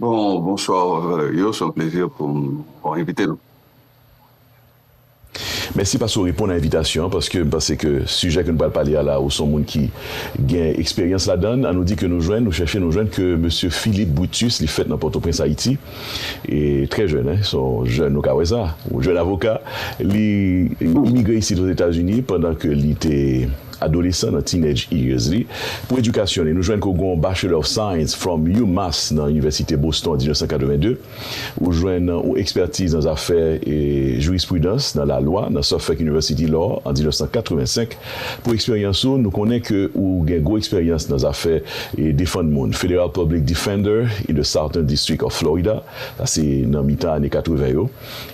Bon bonswa yo son plezi pou m envite nou. Mèsi paske ou reponn a envitasyon an paske m panse ke sijè ke nou pral pale a la ou son moun ki gen eksperyans ladan l. An nou di ke nou jwenn, nou chèche, nou jwenn ke mesye Philippe Brutus li fèt nan Pòtoprens Ayiti e trè jèn hein son jèn nou ka wè sa, yon jèn avoka li imigre isit Ozetazini pandan ke li te Adolesan nan teenage years li. Pou edikasyon li, nou jwenn ke w gen yon Bachelor of Science from UMass nan Inivèsite Boston an 1982. Ou jwenn yon ekspertiz nan zafè Jurispridans, nan lalwa, nan Suffolk University Law an 1985. Pou eksperyans ou, nou konnen ke ou gen gwo eksperyans nan zafè defann moun, Federal Public Defender in the Southern District of Florida, sa se nan mitan ane 80 yo.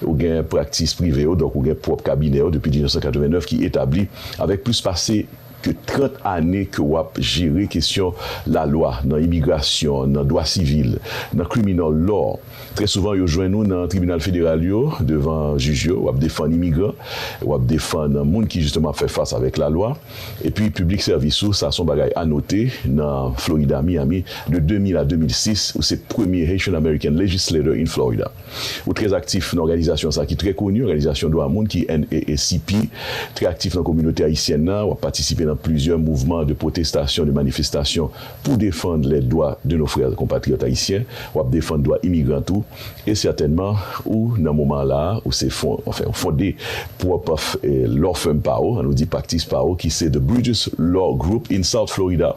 Ou gen praktis prive ou, donk ou gen pwòp kabinè ou depi 1989 ki etabli avèk plis pase ke 30 ane ke w ap jere kesyon lalwa nan imigrasyon, nan dwa sivil, nan criminal law. Trè souvan yo jwenn ou nan tribinal federal yo, devan jij yo, w ap defann imigran, w ap defann moun ki jisteman ap fè fas avèk lalwa. Epi piblik sèvis ou, sa se yon bagay a note, nan Florida, Miami, de 2000 a 2006, ou se premye Haitian American Legislator in Florida. Ou trè aktif nan òganizasyon sa ki trè koni, òganizasyon dwa moun ki NAACP. Trè aktif nan kominote ayisyèn nan, wap patisipe nan plizyè mouvman de pwotestasyon, de manifestasyon pou defann les droits de nos frères compatriotes haïtiens. Wap defann dwa imigran tou. E sètènman, ou nan moman la a, ou se fon, anfen, ou fonde pwòp Law Firm pa ou, an nou di Praktis pa ou ki se The Bruges Law Group in South Florida.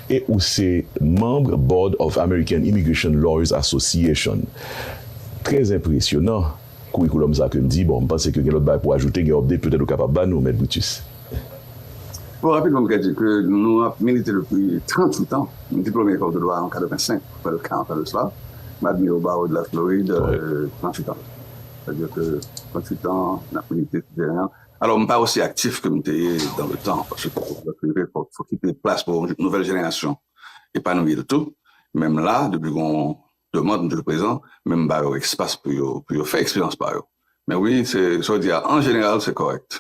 e ou se manb Board of American Immigration Lawyers Association. Trè enpresyonan kourikoulòm sa kem di, bon m panse ke gen lòt bagay pou ajoute, gen update petèt ou kapab ba nou Mèt Brutus. Bon rapidman m ka di ke nou ap milite depi 38 an, m diplome Ecole de Droit an 85, m fè l 40 ans de cela, m admire au barreau de la Floride 38 ans. Sa vle dire ke 38 ans nap milite sou teren an, Alò m pa osi aktif ke m te ye dan le tan, paske fòk ou prepare, fòk ou kite plas pou yon nouvèl jenerasyon epanouyi l tou. Men m la, depi gen yon demand m toujou prezan, men m ba yo espas pou yo fè eksperyans pa yo. Men wi, se sa w di a, an jeneral se kòrèk.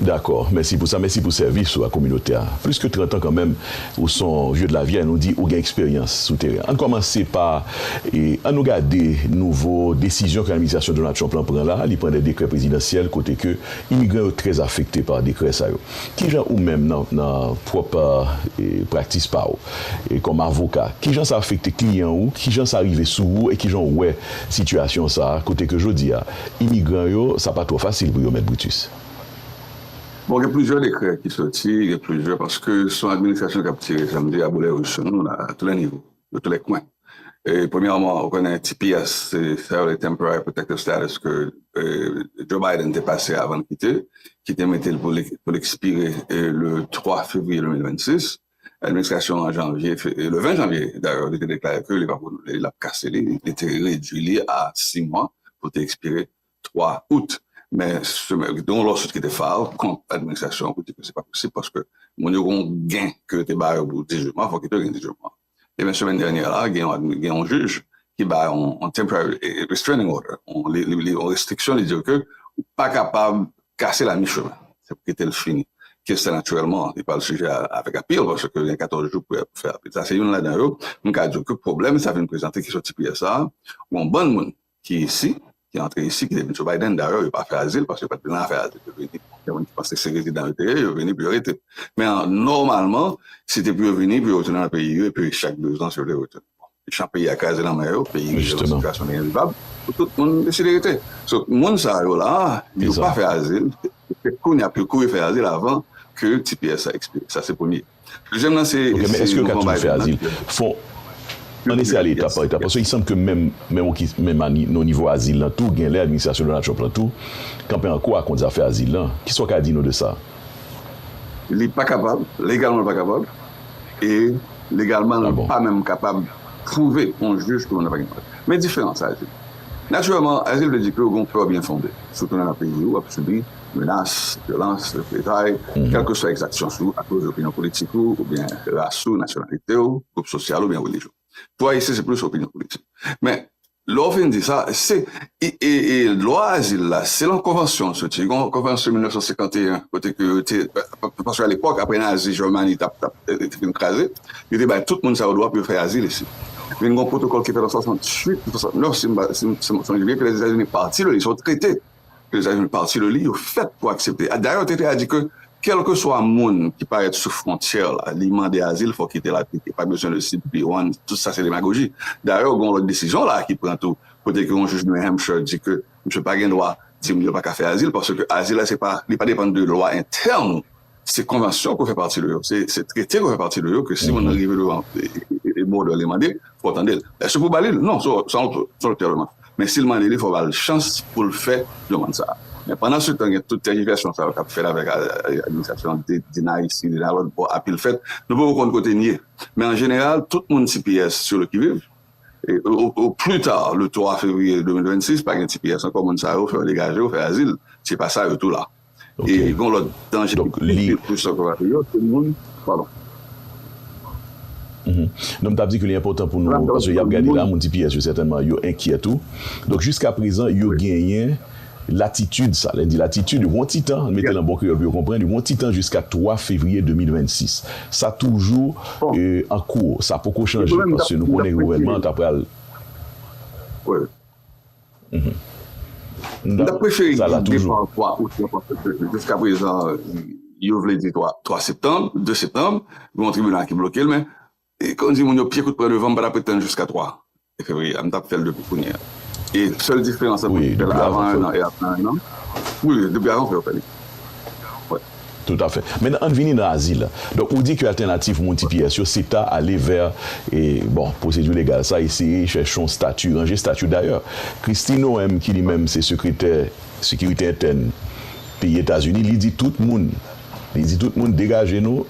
Dakò, mèsi pou sa, mèsi pou sèvis ou a kominote a. Plis ke 30 an kanmenm, Ou son vieux de la vieille, nou di ou gen eksperyans sou teren. Ann kòmanse pa An nou gade nouvo desizyon ke administrasyon Donald Trump lan pran la a, li pran de dekrè prezidansyèl kote ke imigran yo trè afekte pa dekrè sa yo. Kijan ou menm nan pwòp praktis pa ou kòm avoka, kijan sa afekte kliyan ou, kijan sa rive sou ou e kijan ou wè sitiyasyon sa a kote ke jodi a imigran yo sa pa twò fasil pou yo mèt Brutus? Bon gen plizyè dekrè ki soti, gen plizyè paske son administrasyon kap tire janm di a boulè wouj sou nou la a tou lè nivo, nan tou lè kwen. E premyèman ou konnen tps se sa yo rele temporary protective status ke Joe Biden te pase avan l kite, ki te mete l pou l ekspire le 3 fevriye 2026, administrasyon an janvye, le 20 janvye dayè li te deklare ke li pap renouvle li, lap kase li, li te redwi li a 6 mwa pou l te ekspire 3 out men semen gen yon lawsuit ki te file kont administrasyon an pou di ke se pa posib paske moun yo gen yon gen ke yo te ba yo pou dizilman fòk yo te gen dizilman ebyen semen dènyè la gen yon jij ki bay yon temporary restraining order yon restriksyon li di yo ke ou pa kapab kase la mi chemen se pou kite l fini kes la natirèlman li pral sijè avèk apil paske yo gen 14 jou pou yo fè apil sa se youn ladan yo m ka di w ke pwoblèm sa vin prezante ki soti pi yè sa a yon bann moun ki isi, ki antre isi, ki te vin sou Biden. Dayè, yo pa fè azil paske yo pa t vin la fè azil. Yo vini, gen moun ki panse se rezidan yo te ye, yo vini pou yo rete. Men nòmalman, se te pou yo vini pou yo retounen nan peyi yo epi chak 2 zan si yo vle retounen. Bon, jan peyi a kraze nan men yo, peyi rive nan sitiyasyon li envivab, pou tout moun deside rete. So, moun sa yo la, yo pa fè azil, se kounye a pou yo kouri fè azil avan ke tps a ekspire. Sa se premye. Dezyèm nan se Ok men èske yo ka toujou fè azil? Fon Ann eseye ale etap pa etap paske li sanble ke menm menm ok menm a ni nan nivo azil lan tou genlè administrasyon Donald Trump lan tou kanpe an kwa kont zafè azil lan. Kisa w ka di nou de sa? Li pa kapab, legalman li pa kapab e legalman li pa menm kapab pwouve on jij ke moun nan pa gen pwoblèm. Men diferans azil. Natirèlman azil vle di ke ou gen yon pè byenfonde sou tounen nan peyi ou, w ap sibi menas, vyolans, reprezay, kèlkeswa egzaksyon sou akoz opinyon politik ou, oubyen ras ou, nasyonalite ou, gwoup sosyal ou oubyen relijyon. Pou Ayisyen se plis opinyon politik. Men, lè w fin di sa, se, e lwa azil la, se lan konvansyon l soti, gon konvansyon 1951 kote ke yo te, paske alepòk apre nazi Jèmani t ap te fin kraze, yo te bay tout moun sa yo dwa pou yo fè azil isit. Vin gon pwotokòl ki fèt an 68 ou 69 si m pa, si m sonje byen ke Lèzetazini pati, yo te trete. ke zafè yo pati de li, yo fèt pou aksepte. Dayè yo te fè a di ke kèlkeswa moun ki parèt sou fwontyè la, li mande azil fòk li te la tou, pa bezwen de CBP-1, tout sa se demagoji. Dayè gen yon lòt desizyon la ki pran tou kote ke yon jij New Hampshire di ke misye pa gen dwa di moun yo pa ka fè azil paske azil la se pa, li pa depann de lwa entèn Se konvansyon ke w fè pati de yo, se trete ke w fè pati de yo ke si moun nan rive devan bòdè w li mande l, fò w tande l. Èske pou w ba li l? Non, se w ki pral mande. Men si l mande li, fò w ba l chans pou l fè demann sa a. Men pandan se tan gen tout tèjivèsyon sa yo k ap fèt avèk administrasyon an, di nan isi, di nan lòt bò, apil fèt, nou poko konn kote n ye. Men an jeneral, tout moun tps sur le qui vive, au plus tard le 3 février 2026, pa gen tps ankò, moun sa yo fè yo degaje yo, fè azil, se pa sa yo tou la. E gon lòt danje ki pi gwo pou sòs patato yo, se moun, padon. Non m t ap di ke li enpòtan pou nou, paske y ap gade la, moun tps yo sètènman yo enkyè tou. Donk jiska prezan yo genyen latitid sa, lè n di latitid yo gen yon ti tan, m mete l an bon kreyòl pou yo konprann, yo gen yon ti tan jiska 3 fevriye 2026. Sa toujou an kou, sa poko chanje, paske nou konnen gouvènman an ta pral. Mwen tap preche eglise 2 fwa ou 3 ou 3 fwa pèp pèp pèp jiska prezan yo vle di 3 3 septanm 2 septanm gen yon tribinal ki blokel men e kon di moun yo pye kout pran devan m pa tap ret tann jiska 3 fevriye a m tap fèl depi kounye a e sèl diferans an wi depi avan 1 an e aprè 1 an wi depi avan fè yo fè li wè. Tout afè. Maintenant ann vini nan azil la. Donk ou di ke altènatif moun tps yo se ta ale vè e bon pwosedi legal sa eseye chèche yon stati, ranje stati. Dayè Kristi Noem ki li menm se sekretè sekirite entèn peyi Etazini li di tout moun li di tout moun degaje nou.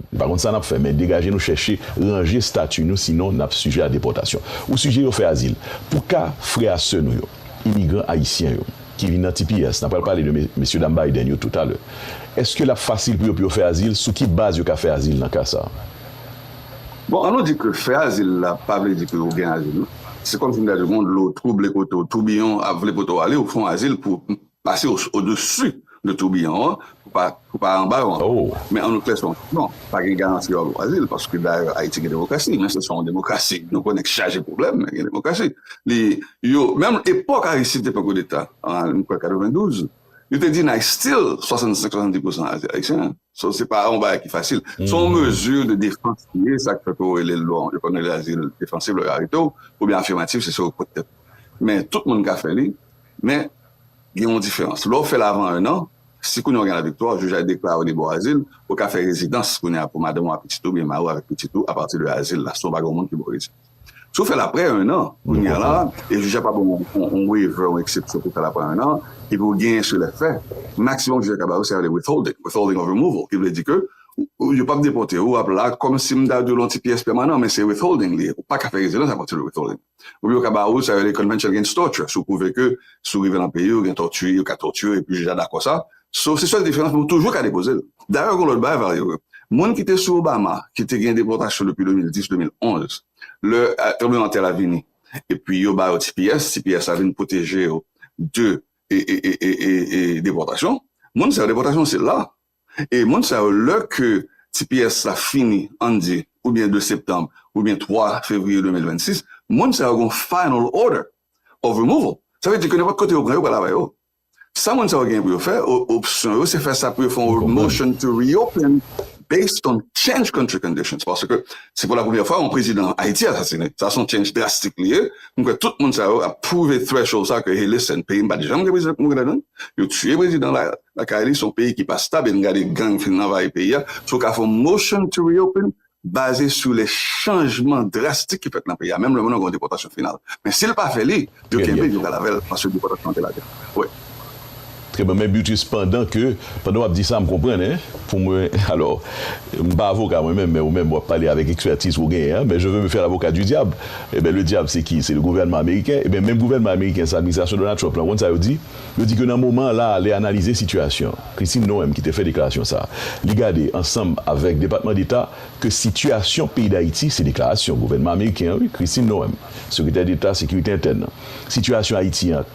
Nou pa konn sa nap fè men degaje nou chèche ranje stati nou sinon nap sijè a depòtasyon. Ou sijè yo fè azil pou ka frè a sè nou yo, imigran ayisyen yo ki vin nan tps, na pral pale de mesye dam Biden yo tou talè. Eske lap fasil pou yo pou yo fè azil, sou ki baz yo ka fè azil nan ka sa? Bon an nou di ke fè azil la pa vle di ke ou gen azil non. Se kòm si m ta di w gon dlo twouble kote w, toubiyon ap vle pote w ale, ou fon azil pou Pase o desu de toubiyon an pou pa pou pa anba yo ankò. Men an nou klè se yon non, pa gen garanti yo al Brazil paske dayè Ayiti gen demokrasi men se son demokrasi nou konnen ki chaje pwoblèm men gen demokrasi. Li yo menm epòk Aristide te pran koudeta an m kwè 92 li te di nay still 65 70 pousan Ayisyen so se pa yon bagay ki fasil se yon mezi de defans li ye sa k fè ke yo rele l bon yo konn rele l azil defansif lè yo arete w oubyen afimatif se sa yo pot tèt men tout moun ka fè li. Men, gen yon diferans. Lè w fè l avan enn an, si kounye a w gen laviktwa, jij la deklare w li ba w azil, ou ka fè rezidans kounye a pou madanm ou ak pitit ou oubyen mari w avèk pitit ou apati de azil la, si w pa gen yon moun ki ba w rezidans. Si w fè l aprè enn an, kounye a la, e jij la pa ba w yon waiver, yon eksepsyon pou w fè l aprè enn an, epi ou genyen sou lè fè, maksimòm jij la ka ba w sa yo rele withholding, withholding of removal, ki vle di ke yo p ap depòte w, w ap la kòmsi m ta di w lan ti pyès pèmanan, men se withholding li ye, ou pa ka fè rezidans apati de withholding. Oubyen yo ka ba ou sa yo rele Convention Against Torture, si ou pwouve ke si ou rive nan peyi ou gen tòti, yo ka tòti ou epi jij la dakò sa. So, se sèl diferans men ou toujou ka depoze l. Dayè gen yon lòt bagay Valerio, moun ki te sou Obama ki te gen depòtasyon depi 2010, 2011, lè tranbleman tè la vini epi yo ba yo tps, tps la vin pwoteje yo de depòtasyon, moun sa yo depòtasyon se la. E moun sa yo lè ke tps la fini ann di oubyen 2 septanm oubyen 3 fevriye 2026 moun sa yo gon final order of removal sa vle di ke nenpòt kote yo pran yo pral avè yo sa moun sa yo genyen pou yo fè opsyon yo se fè sa pou yo fè yon motion to reopen based on change country conditions paske se pou la premyè fwa yon prezidan ayiti asasine sa son change drastik li ye m kwè tout moun sa yo ap pwouve threshold sa ke hey listen peyi m pat janm gen prezidan ki mouri ladann yo tiye prezidan la Lakay li son peyi ki pa stab e n gade gang fin anvayi peyi a, sou ka fè yon motion to reopen baze sou lè chanjman drastik ki fèt nan peyi a menm lè moun nan gen yon depòtasyon final. Men si l pa fè li, yo kenbe l yo pral avè l paske depòtasyon an te lage. Wi. Trè byen men Brutus pandan ke pandan w ap di sa m konprann hein pou mwen alò m pa avoka mwen menm men ou menm w ap pale avèk ekspertiz ke w genyen an men je veux me faire l'avocat du diable ebyen le diable se ki se le gouvènman ameriken ebyen menm gouvènman ameriken sa administrasyon Donald Trump lan w konn sa yo di Yo di ke nan moman an la a lè analize sitiyasyon, Christine Noem ki te fè deklarasyon sa a, li gade ansanm avèk Depatman Deta ke sitiyasyon peyi Dayiti, se deklarasyon gouvènman ameriken an wi, Christine Noem, Sekretè Deta Sekirite Entèn nan, sitiyasyon Ayiti an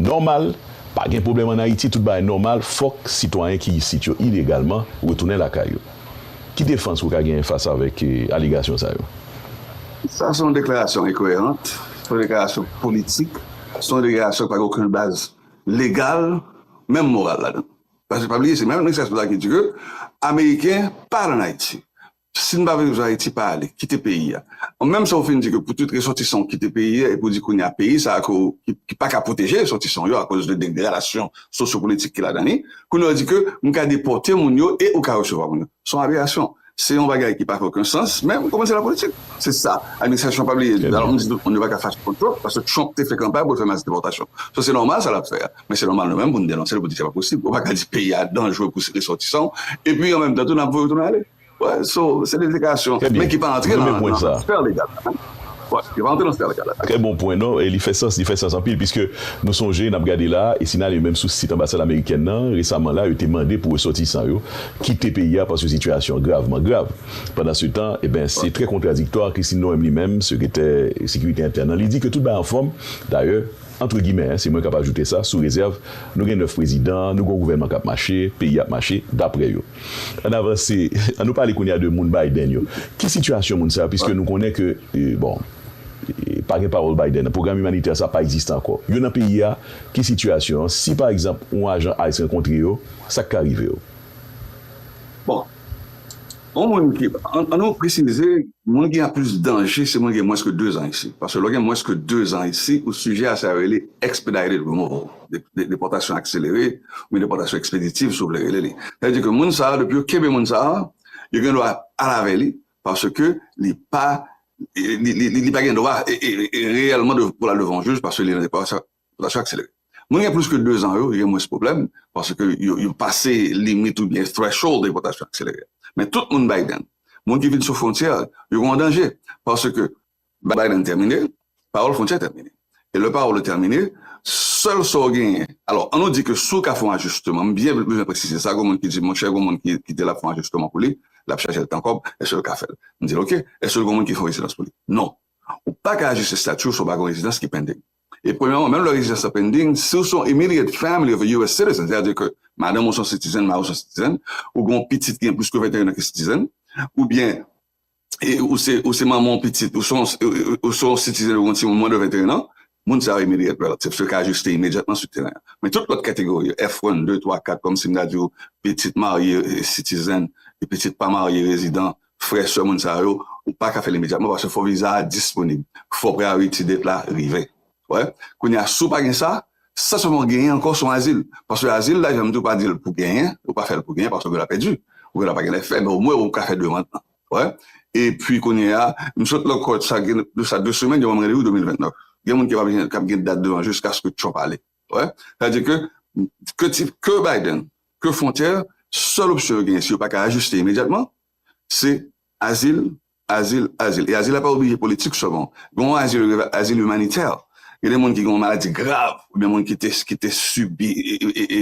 nòmal, pa gen pwoblèm an Ayiti, tout bagay nòmal, fòk sitwayen ki isit yo ilegalman retounen lakay yo. Ki defans ou ka genyen fas avèk alegasyon sa yo? Sa se yon deklarasyon enkoyerant, se yon deklarasyon politik. Se yon deklarasyon ki pa gen okenn baz legal, menm moral ladan. Paske pa bliye se menm administrasyon sa ki di ke ameriken pa al an Ayiti. Si nou pa vle yo vin Ayiti, pa ale, kite peyi a. Menm sa ou fin di ke pou tout resòtisan ou kite peyi a epi ou di kounye a peyi sa ke ki pa ka pwoteje resòtisan yo akoz de degradasyon sosyopolitik ki ladan li, kounye a ou di ke nou ka depòte moun yo e ou ka resevwa moun yo. Se yon aberasyon. Se yon bagay ki pa fè oken sans, men ou konnen se la politik. Se sa administrasyon pa bliye di. Alò m di tout moun yo pa ka fache kont Trump, paske Trump te fè kanpay pou l fè mas depòtasyon. So se nòmal sa l ap fè a, men se nòmal nou menm pou n denonse l pou n di se pa posib. Ou pa ka di peyi a danjre pou resòtisan w, epi an menm tan tou n ap voye w tounen ale. So se de deklarasyon, men ki pa antre nan sfè legal. Yo pa antre nan sfè legal la. Trè bon pwen. Non, li fè sans, li fè sans anpil piske nou sonje, n ap gade la a, e si n ale menm sou sit anbasad amerikèn nan, resaman la a, yo te mande pou resòtisan yo kite peyi a paske sitiyasyon an gravman grav. Pandansetan, eben, se trè kontradiktwa, Christine Noem li menm, sekretè sekirite entèn nan, li di ke tout bagay anfòm, dayè, antre gimè, se mwen k ap ajoute sa, sou rezèv nou gen 9 prezidan, nou gen yon gouvènman k ap mache, peyi a ap mache, daprè yo. Ann avanse, an nou pale kounye a de moun Biden yo. Ki sitiyasyon moun sa yo, piske nou konnen ke, bon, pa gen pawòl Biden nan, pwogram imanitè sa pa egziste ankò. Yo nan peyi a, ki sitiyasyon an? Si pa egzanp, yon ajan ice rankontre yo, sa k ka rive yo? Bon, yon moun ki, an nou presize, moun ki gen plis danje, se moun ki gen mwens ke dezan isi. Paske lè w gen mwens ke dezan isi, ou sijè a sa yo rele expedited removal. depòtasyon akselere, oubyen depòtasyon ekspeditiv si w vle rele li. Sa vle di ke moun sa a, depi yo kenbe moun sa a, yo gen dwa al avè li, paske li pa li pa gen dwa reyèlman pou l al devan yon jij paske li nan depòtasyon akselere. Moun gen plis ke 2 zan yo, yo gen mwens pwoblèm, paske yo pase limit oubyen threshold depòtasyon akselere a. Men tout moun Biden, moun ki vin sou fwontyè, yo gen yon danje, paske Biden tèmine, pawòl Frontière tèmine. E lè pawòl ou tèmine, sèl sa w genyen, alò, an nou di ke si w ka fè yon ajisteman, m byen bezwen presize sa, gen moun ki di, monchè, gen moun ki kite l ap fè yon ajisteman pou li, l ap chaje l tan kòb, èske l ka fè l? M di l, ok, èske l gen yon moun ki fè yon rezidans pou li? Non. Ou pa ka ajiste stati w si w pa gen yon rezidans ki pending. E premyèman, menm lè rezidans lan pending, si w se yon immediate family of a US citizen, sètadi ke madanm ou se yon citizen, mari w se yon citizen, ou gen yon pitit ki gen plis ke 21 an ki citizen, oubyen, Ou se manman yon pitit, ou se yon sitizen yon timoun mwen de 21 an, moun sa yo immediate relatives yo ka ajiste imedyatman sou teren an. Men tout lòt kategori yo, F-1, 2, 3, 4, kòm si m ta di ou pitit marye sitizen, pitit pa marye rezidan, frè, sè moun sa yo, ou pa ka fè l imedyatman paske fò viza a disponib, fò priority date la rive. Wè, kounye a, si w pa gen sa, sèl sa w ap genyen ankò se yon azil. Paske azil la, jan m di w, pa di l pou genyen, yo pa fè l pou genyen paske w la pèdi, ou gen dwa pa gen lè fè, men omwen ou ka fè demand lan. Wè, epi kounye a, m sot lankòt, sa gen de sa de semèn, yo ban m randevou 2029. Gen moun ki pa gen, k ap gen dat devan jiskaske Trump ale. Wè, sa di ke, ke ti, ke Biden, ke fwontyè, sèl opsyon yo genyen, si yo pa ka ajiste imedyatman, se azil, Azil, azil. E azil la pa oblije politik sèlman. Gen yon azil yo rele azil imanitè. Gen de moun ki gen yon maladi grav oubyen moun ki te ki te sibi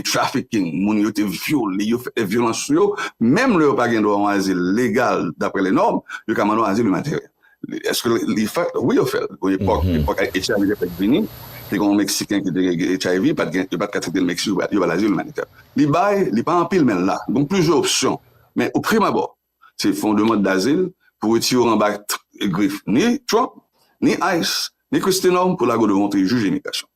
trafficking, moun yo te vyole yo, fè vyolans sou yo, menm lè yo pa gen dwa yon azil legal daprè le nòm, yo ka mande yon azil imanitè. Èske li fèt? Wi yo fè l. Gon epòk, epòk HIV te fèk vini, te gen yon Meksiken ki te gen HIV, yo pa t gen, yo pa t ka trete l Meksik, yo ba l azil imanitè. Li bay, li pa anpil men l la. Gon plizyè opsyon. Men o prim abò, Se fè yon demand dazil pou retire w anba grif ni Trump, ni ice, ni Kristi Nòm pou lage w devan yon peyi jij imigrasyon.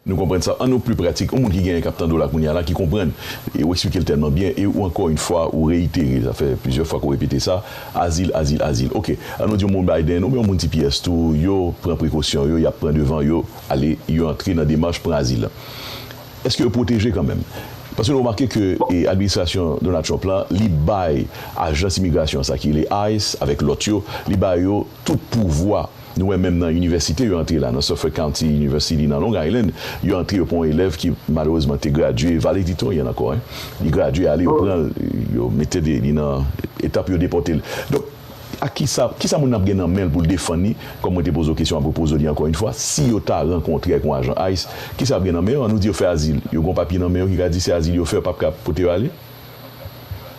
Nou konprann sa an nou pli pratik. Yon moun ki genyen k ap tande w la kounye a la ki konprann e ou eksplike l tèlman byen e ou ankò yn fwa ou reyitere, sa fè plizyè fwa ke w repete sa, azil, azil, azil. Ok, an nou di yon moun Biden oubyen yon moun tps tou yo pran prekosyon yo, y ap pran devan yo ale yo antre nan demach pran azil lan. Eske yo pwoteje kanmenm? Paske nou remake ke administrasyon Donald Trump la, li bay ajans imigrasyon sa ki rele ice avèk lòt yo, li ba yo tout pouvwa. Nou wè menm nan inivèsite yo antre la, nan Suffolk County University nan Long Island, yo antre yo pran yon elèv ki malerezman te gradye valediktoryen ankò, li gradye ale yo pran l, yo mete li nan etap pou yo depòte l. Donk. Ak ki sa, ki sa moun nan ap gen nan men l pou l defann li, kòm mwen te poze w kesyon ap repoze w li ankò yon fwa, si yo ta rankontre ak yon ajan ice, ki sa y ap gen nan men yo? An nou di yo fè azil, yo gen yon papye nan men yo ki ka di se azil yo fè, yo p ap ka pote yo ale?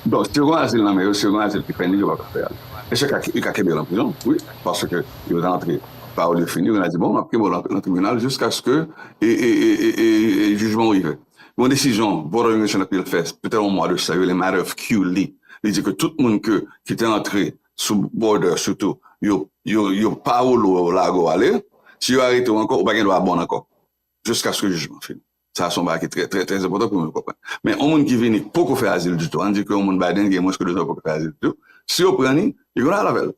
Bon, si yo gen yon azil nan men yo, si yo gen yon azil ki fini, yo p ap ka fè ale. E se ka, yo ka kenbe yo lan prizon, wi, paske yo rantre, pawòl yo fini, yo gen dwa di, bon, m ap kenbe w lan tribinal jiskaske e, e, e, e, e, e jijman w rive. Yon desizyon Voter Immigration Appeal fè petèt yon mwa de sa yo rele Matter of Q li li di ke tout moun ke ki te antre sou border sitou yo yo yo pa woule w lage w ale si yo arete w ankò ou pa gen dwa bon ankò jiskaske jijman fini sa se yon bagay ki trè trè trè enpòtan pou moun konprann men yon moun ki vini poko fè azil ditou an di ke yon moun Biden gen mwens ke 2 zan poko fè azil ditou si yo pran li yo gen dwa al avè l.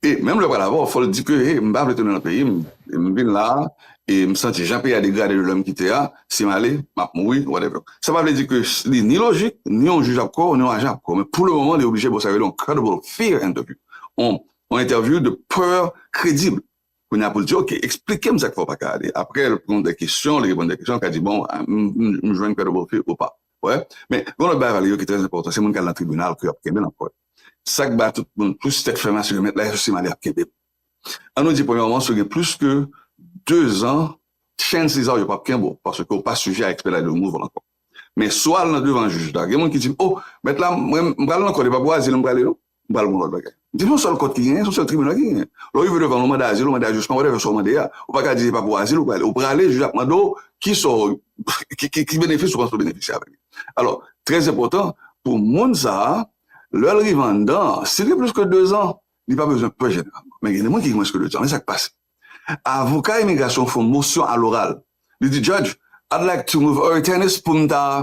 E menm lè w pral avè w, fò l di ke hey, m pa vle tounen nan peyi m, m vin la a e m santi jan peyi a degrade de lè m kite a, si m ale, m ap mouri, whatever. Sa pa vle di ke li ni lojik, ni yon jij ap kwè w, ni yon ajan ap kwè w, men pou le moman li oblije ba w sa yo rele yon credible fear interview, yon entèvyou de peur credible. Kounye a pou l di ok, eksplike m sa k fè w pa ka ale. Apre l pran de kesyon, li reponn de kesyon, l ka di bon, m jwenn pè Dobofi ou pa. Ou wè? Men, gen lòt bagay vale yo ki trè enpòtan, se moun k al nan tribinal pou y ap kenbe l ankò yo. Sa k ba tout moun plis tèt fè mal se ke mèt la e sosi m ale ap kenbe m. An nou di premyèman si w gen plis ke dezan, chenn siza w yo p ap kenbe w paske w pa sijè a ekspedite de nouvo ankò. Men, si w al nan devan jij la, gen moun ki di m o, mèt la, mwen m pral nan kò, li pa pou azil m prale non. M pral pou yon lòt bagay. Di m yon sèl kòt ki genyen, se yon sèl tribinal ki genyen. Lè w rive devan yon manda azil, yon manda ajisman, whatever sa w mande a, ou pa ka di se pa pou azil ou prale. Ou prale, jij ap mande w ki sa w, ki benefis ou panse ou benefisye avèk li. Alò, trè enpòtan pou moun sa a, lè l rive anndan an, si l gen plis ke dezan, li pa bezwen pè jeneralman. Men gen de moun ki gen mwens ke dezan. Men sa k pase, avoka imigrasyon fè yon mosyon aloral, li di, Judge, I'd like to move Early Tennis pou m ta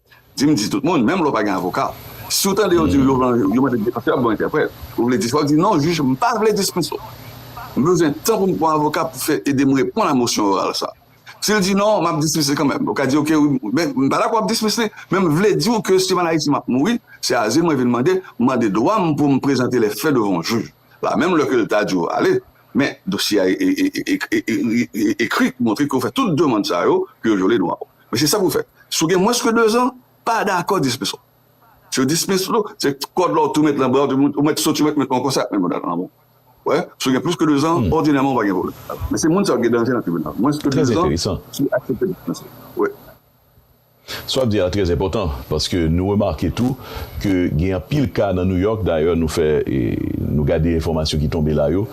Di m di tout moun, menm lè w pa gen avoka. Si w tande yo di w yo mande defansè ap ba w entèprèt, ou vle di sa w di non jij m pa vle dispans ou. M bezwen tan pou m pran avoka pou fè ede m reponn a mosyon oral sa. Si l di non, m ap dismiss li kanmenm. Ou ka di ok wi, men m pa dakò ap dismiss li, men m vle di w ke si m al Ayiti m ap mouri, se azil mwen vin mande, m mande dwa m pou m prezante lè fè devan yon jij. La menm lè ke l ta di w ale, men dosye a ekri ki montre ke w fè tout demand sa yo, ke yo vyole dwa w. Mesye sa pou fè si w gen mwens ke 2 zan pa dakò dismiss ou si yo dismiss ou se kòd la w tou met nan bra w ou mèt soti ou mèt met ankò sa ap menm nan lanmou wè si w gen plis ke 2 zan òdinèman w pa gen pwoblèm men se moun sa yo ki gen danje nan tribinal mwens ke 2 zan si yo aksepte dismiss ou wè. Sa w ap di a trè enpòtan paske nou remake tou. ke gen anpil ka nan New York, dayè nou fè nou gade enfòmasyon ki tonbe la yo,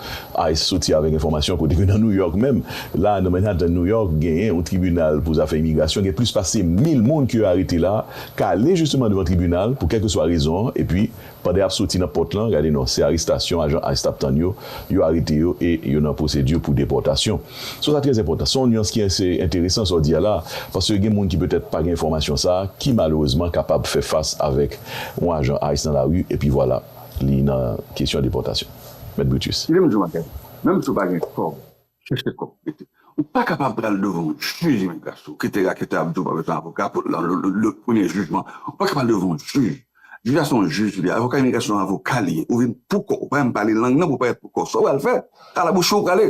ice soti avèk enfòmasyon kote ke nan New York menm, la nan Manhattan New York genyen yon tribinal pou zafè imigrasyon gen plis pase 1000 moun ke yo arete la ka ale jisteman devan tribinal pou kèlkeswa rezon an epi pandan yap soti nan pòt lan gade non se arestasyon ajan ice tap tann yo, yo arete yo e yo nan pwosedi pou depòtasyon. So sa trè enpòtan. Se yon nuans ki ase enteresan sa w di a la, paske gen moun ki petèt pa gen enfòmasyon sa a, ki malerezman kapab fè fas avèk yon ajan ice nan lari epi vwala li nan kesyon depòtasyon. Mèt Brutus. Kite m di w bagay, menm si w pa gen kòb, chèche kòb pou mete. Ou pa kapab pral devan yon jij imigrasyon, kite raketè ap di w pa bezwen avoka pou premye jijman. Ou pa kapab al devan yon jij. Jij la se yon jij li ye. Avoka imigrasyon se yon avoka li ye. Ou vin pou kò w. Ou pa menm pale lang nan pou w parèt pou kò w. Sa w pral fè? Kalabouche w prale.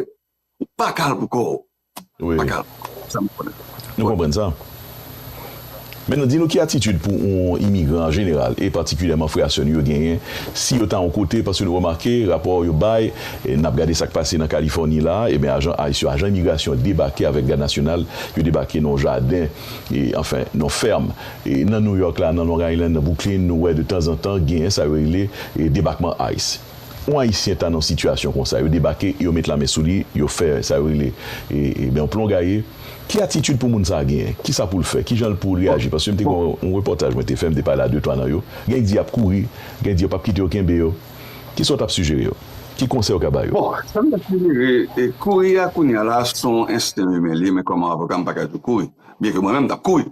Ou pa kal pou kò ou. Ou pa kal pou kò ou. Sa m konnen. Nou konprann sa. Men nou di nou ki atitid pou yon imigran an jeneral e patikilyèman frè a sè nou yo genyen si yo ta yon kote paske nou remake rapò yo bay e n ap gade sa k pase nan Kalifòni la a eben ajan ice yo ajan imigrasyon debake avèk gad nasyonal yo debake nan yon jaden e anfen nan yon fèm e nan Nouyòk la nan Long Island nan Bwouklin nou wè de tanzantan genyen sa yo rele e debakman ice. yon Ayisyen ta nan sitiyasyon konsa, yo debake e yo met lamen sou li, yo fè sa yo rele yon plon gaye, ki atitid pou moun sa a genyen? Ki sa pou l fè? Ki jan l pou l reyaji? Paske m te gen yon repòtaj mwen te fè, m te pale a de twa nan yo, gen di y ap kouri, gen di yo p ap kite yo kenbe yo. Ki sa w t ap sijere yo? Ki konsèy ou ka ba yo? Bon, sa m ta sijere, kouri a kounye a la a se yon ensten imen li, men kòm avoka m pa ka di w kouri, byenke mwen menm m t ap kouri.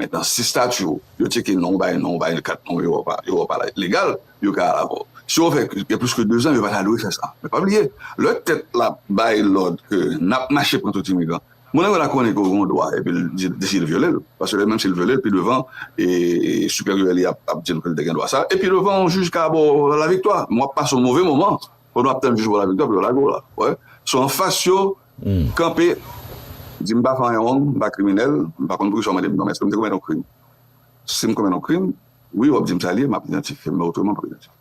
Men nan si stati yo, yo tcheke non w bay non w bay kat non yo ou a pa legal, yo ka al avè w. Si yo fè gen plis ke dezan, yo pa ta dwe fè sa. Men pa bliye, lè tèt la bay lòd ke n ap mache pran tout imigran, moun nan yo la konnen ke w gen yon dwa epi l deside l vyole l. Paske menm si l vyole l, pi devan siperyè li a ap di l ke l te gen dwa sa e pi devan yon jij ka ba w laviktwa. Men w ap pase yon move moman pandan w ap tann jij ba w laviktwa pou yo lage w la. Ou wè? So anfas yo. Kanpe, di m pa fè anyen wrong, m pa kriminèl, m pa konn poukisa w mande m non men èske m te komèt yon krim? Si m komèt yon krim, wi w ap di m sa li ye, m ap idantifye m men otreman m pap idantifye m.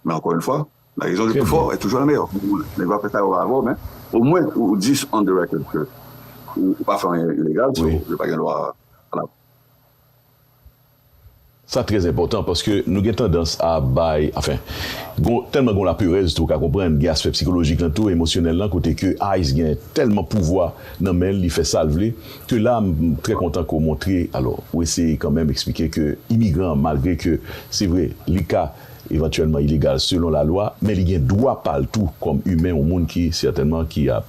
Men ankò yn fwa, la rezon le plus fort est toujours la meilleure. Nèg yo ap fè sa yo vle avè w men omwen ou di on the record ke ou pa fè anyen ilegal so yo pa gen dwa. Sa trè enpòtan paske nou gen tandans a bay, anfen, gon tèlman gon laperèz tou, ou ka konprann, gen aspè psikolojik lan tou, emosyonèl lan kote ke ice gen tèlman pouvwa nan men l, li fè sa l vle, ke la m trè kontan ke w montre, alò, ou eseye kanmenm eksplike ke imigran an malgre ke se vre li ka evantyèlman ilegal selon lalwa, men li gen dwa pa l tou kòm imen, yon moun ki sètènman ki ap.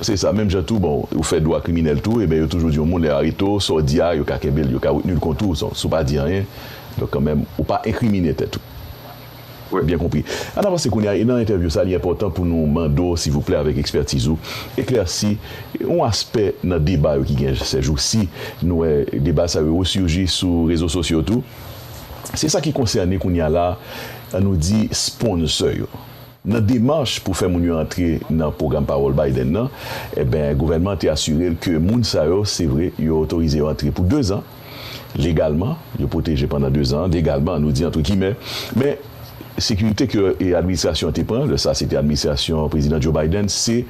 Se sa, menm jan tou bon ou fè dwa kriminèl tou eben yo toujou di yon moun lè yo arete w sa w di a yo ka kenbe l yo ka retni l kont ou si w pa di anyen donk kanmenm ou pa enkrimine tèt ou. Mwen byen konpri. Ann avanse kounye a e nan entèvyou sa li enpòtan pou nou mande w silvouplè avèk ekspètiz ou eklèsi yon aspè nan deba yo ki gen sèjousi nou wè deba sa yo resurgi sou rezo sosyo tou se sa ki konsène kounye a la nou di sponsor yo. Nan demach pou fè moun yo antre nan pwogram pawòl Biden nan, enben gouvènman an te asire l ke moun sa yo, se vre, yo otorize yo antre pou dezan, legalman, yo pwoteje pandan dezan an, legalman, nou di antre gimè, men, sekirite ke administrasyon an te pran, lè sa a se te administrasyon Prezidan Joe Biden, se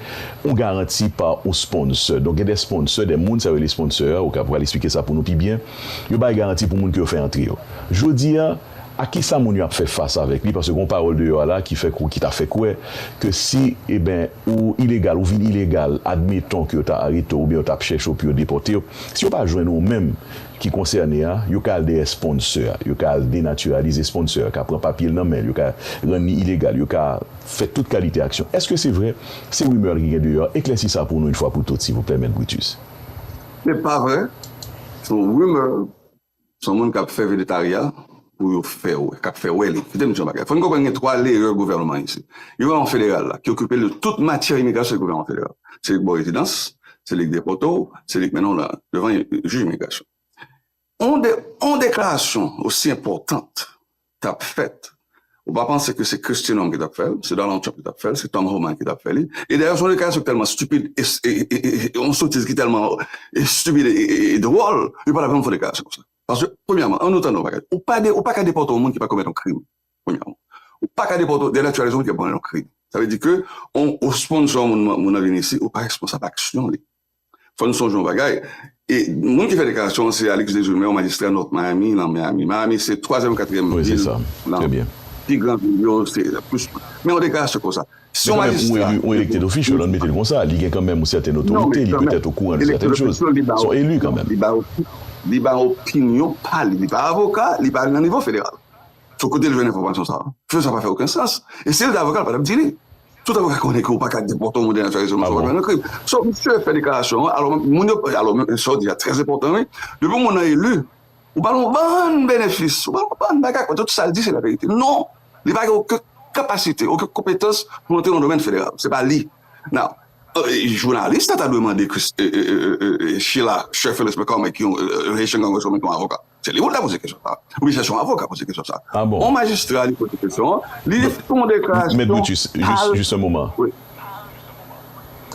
yon garanti pa yon sponsor. Donk gen de sponsor, de moun sa yo rele sponsor, ou ka pral esplike sa pou nou pi byen, yo bay garanti pou moun ke yo fè antre yo. Jodi a. A kisa moun yo ap fè fas avèk li paske gon pawòl deyò a la ki fè ki ta fè kwè ke si eben ou ilegal ou vin ilegal admeton ke yo ta arete w oubyen yo tap chèche w pou yo depòte w si yo pa jwenn ou menm ki konsène a yo ka al dèyè sponsor a yo ka al denatiralize sponsor a ka pran papye l nan men l yo ka rann li ilegal yo ka fè tout kalite aksyon eske se vrè se rumeur ki gen deyò a eklèsi sa pou nou in fwa pou tout silvouplè mèt Brutus. Se pa vrè, se yon rumeur Son moun kap fè vedetarya pou yo fè wè, kap fè wè li. Kite m di yon bagay, fò n konprann gen 3 leyè gouvènman an isit. Gouvènman federal la ki okipe l de tout matyè imigrasyon se gouvènman federal. Se li k ba w rezidans, se li k depòte w, se li k mennen w nan devan jij imigrasyon. On deklarasyon osi enpòtant tap fèt ou pa panse ke se Kristi Nonm ki tap fèl, se Donald Trump ki tap fèl, se Tom Homan ki tap fè li, e dayè son deklarasyon ki tèlman stupid e yon sotiz ki tèlman stupid e dwòl yo patap janm fè yon deklarasyon konsa paske premyèman an nou tande yon bagay ou pa ou paka depòte yon moun ki pa komèt yon krim premyèman ou paka depòte ou denatiralize yon moun ki pa komèt yon krim sa vle di ke ou sponnsò yon moun nan vini isi ou pa responsab aksyon li Fò nou sonje yon bagay, e moun ki fè deklarasyon an se Alix Desjumè, yon majistra North Miami, nan Miami. Miami se twazyèm ou katriyèm vil nan pi gran vil yo, se plis moun. Men yon deklarasyon konsa, si yon majistra. Men kanmenm, yon elected official, an n mete l konsa, li gen kanmenm yon sèten otorite, li petèt okouran de sèten choz. Se yon elu kanmenm. Li ba opinyon pa li. Li pa avoka, li pa nan nivo federal. Sou kote l jwenn enfòmasyon sa? Fè sa pa fè oken sans. E si l te avoka l pa tap di li. Tout avoka konnen ke ou paka depòte yon moun dènye soirée selon sa ou pa fè yon krim. So misye fè deklarasyon an alò moun yo alò menm sa w di a trè enpòtan wi. Depi yon moun nan eli ou ba l yon bann benefis ou ba l yon bann bagay kòm tout sa l di se laverite. Non li pa gen oken kapasite oken konpetans pou l antre nan domèn federal. Se pa li. Now jounalis la ta dwe mande Chila Sherfield Especorme ki yon Haitian Congresswoman ki yon avoka. Se li ou ta poze kesyon sa. Oubyen se son avoka poze kesyon sa. Ah bon. On majistra li poze kesyon an, li Don, fè on deklarasyon Mèt Brutus, jis, kal, jis un moman. wi.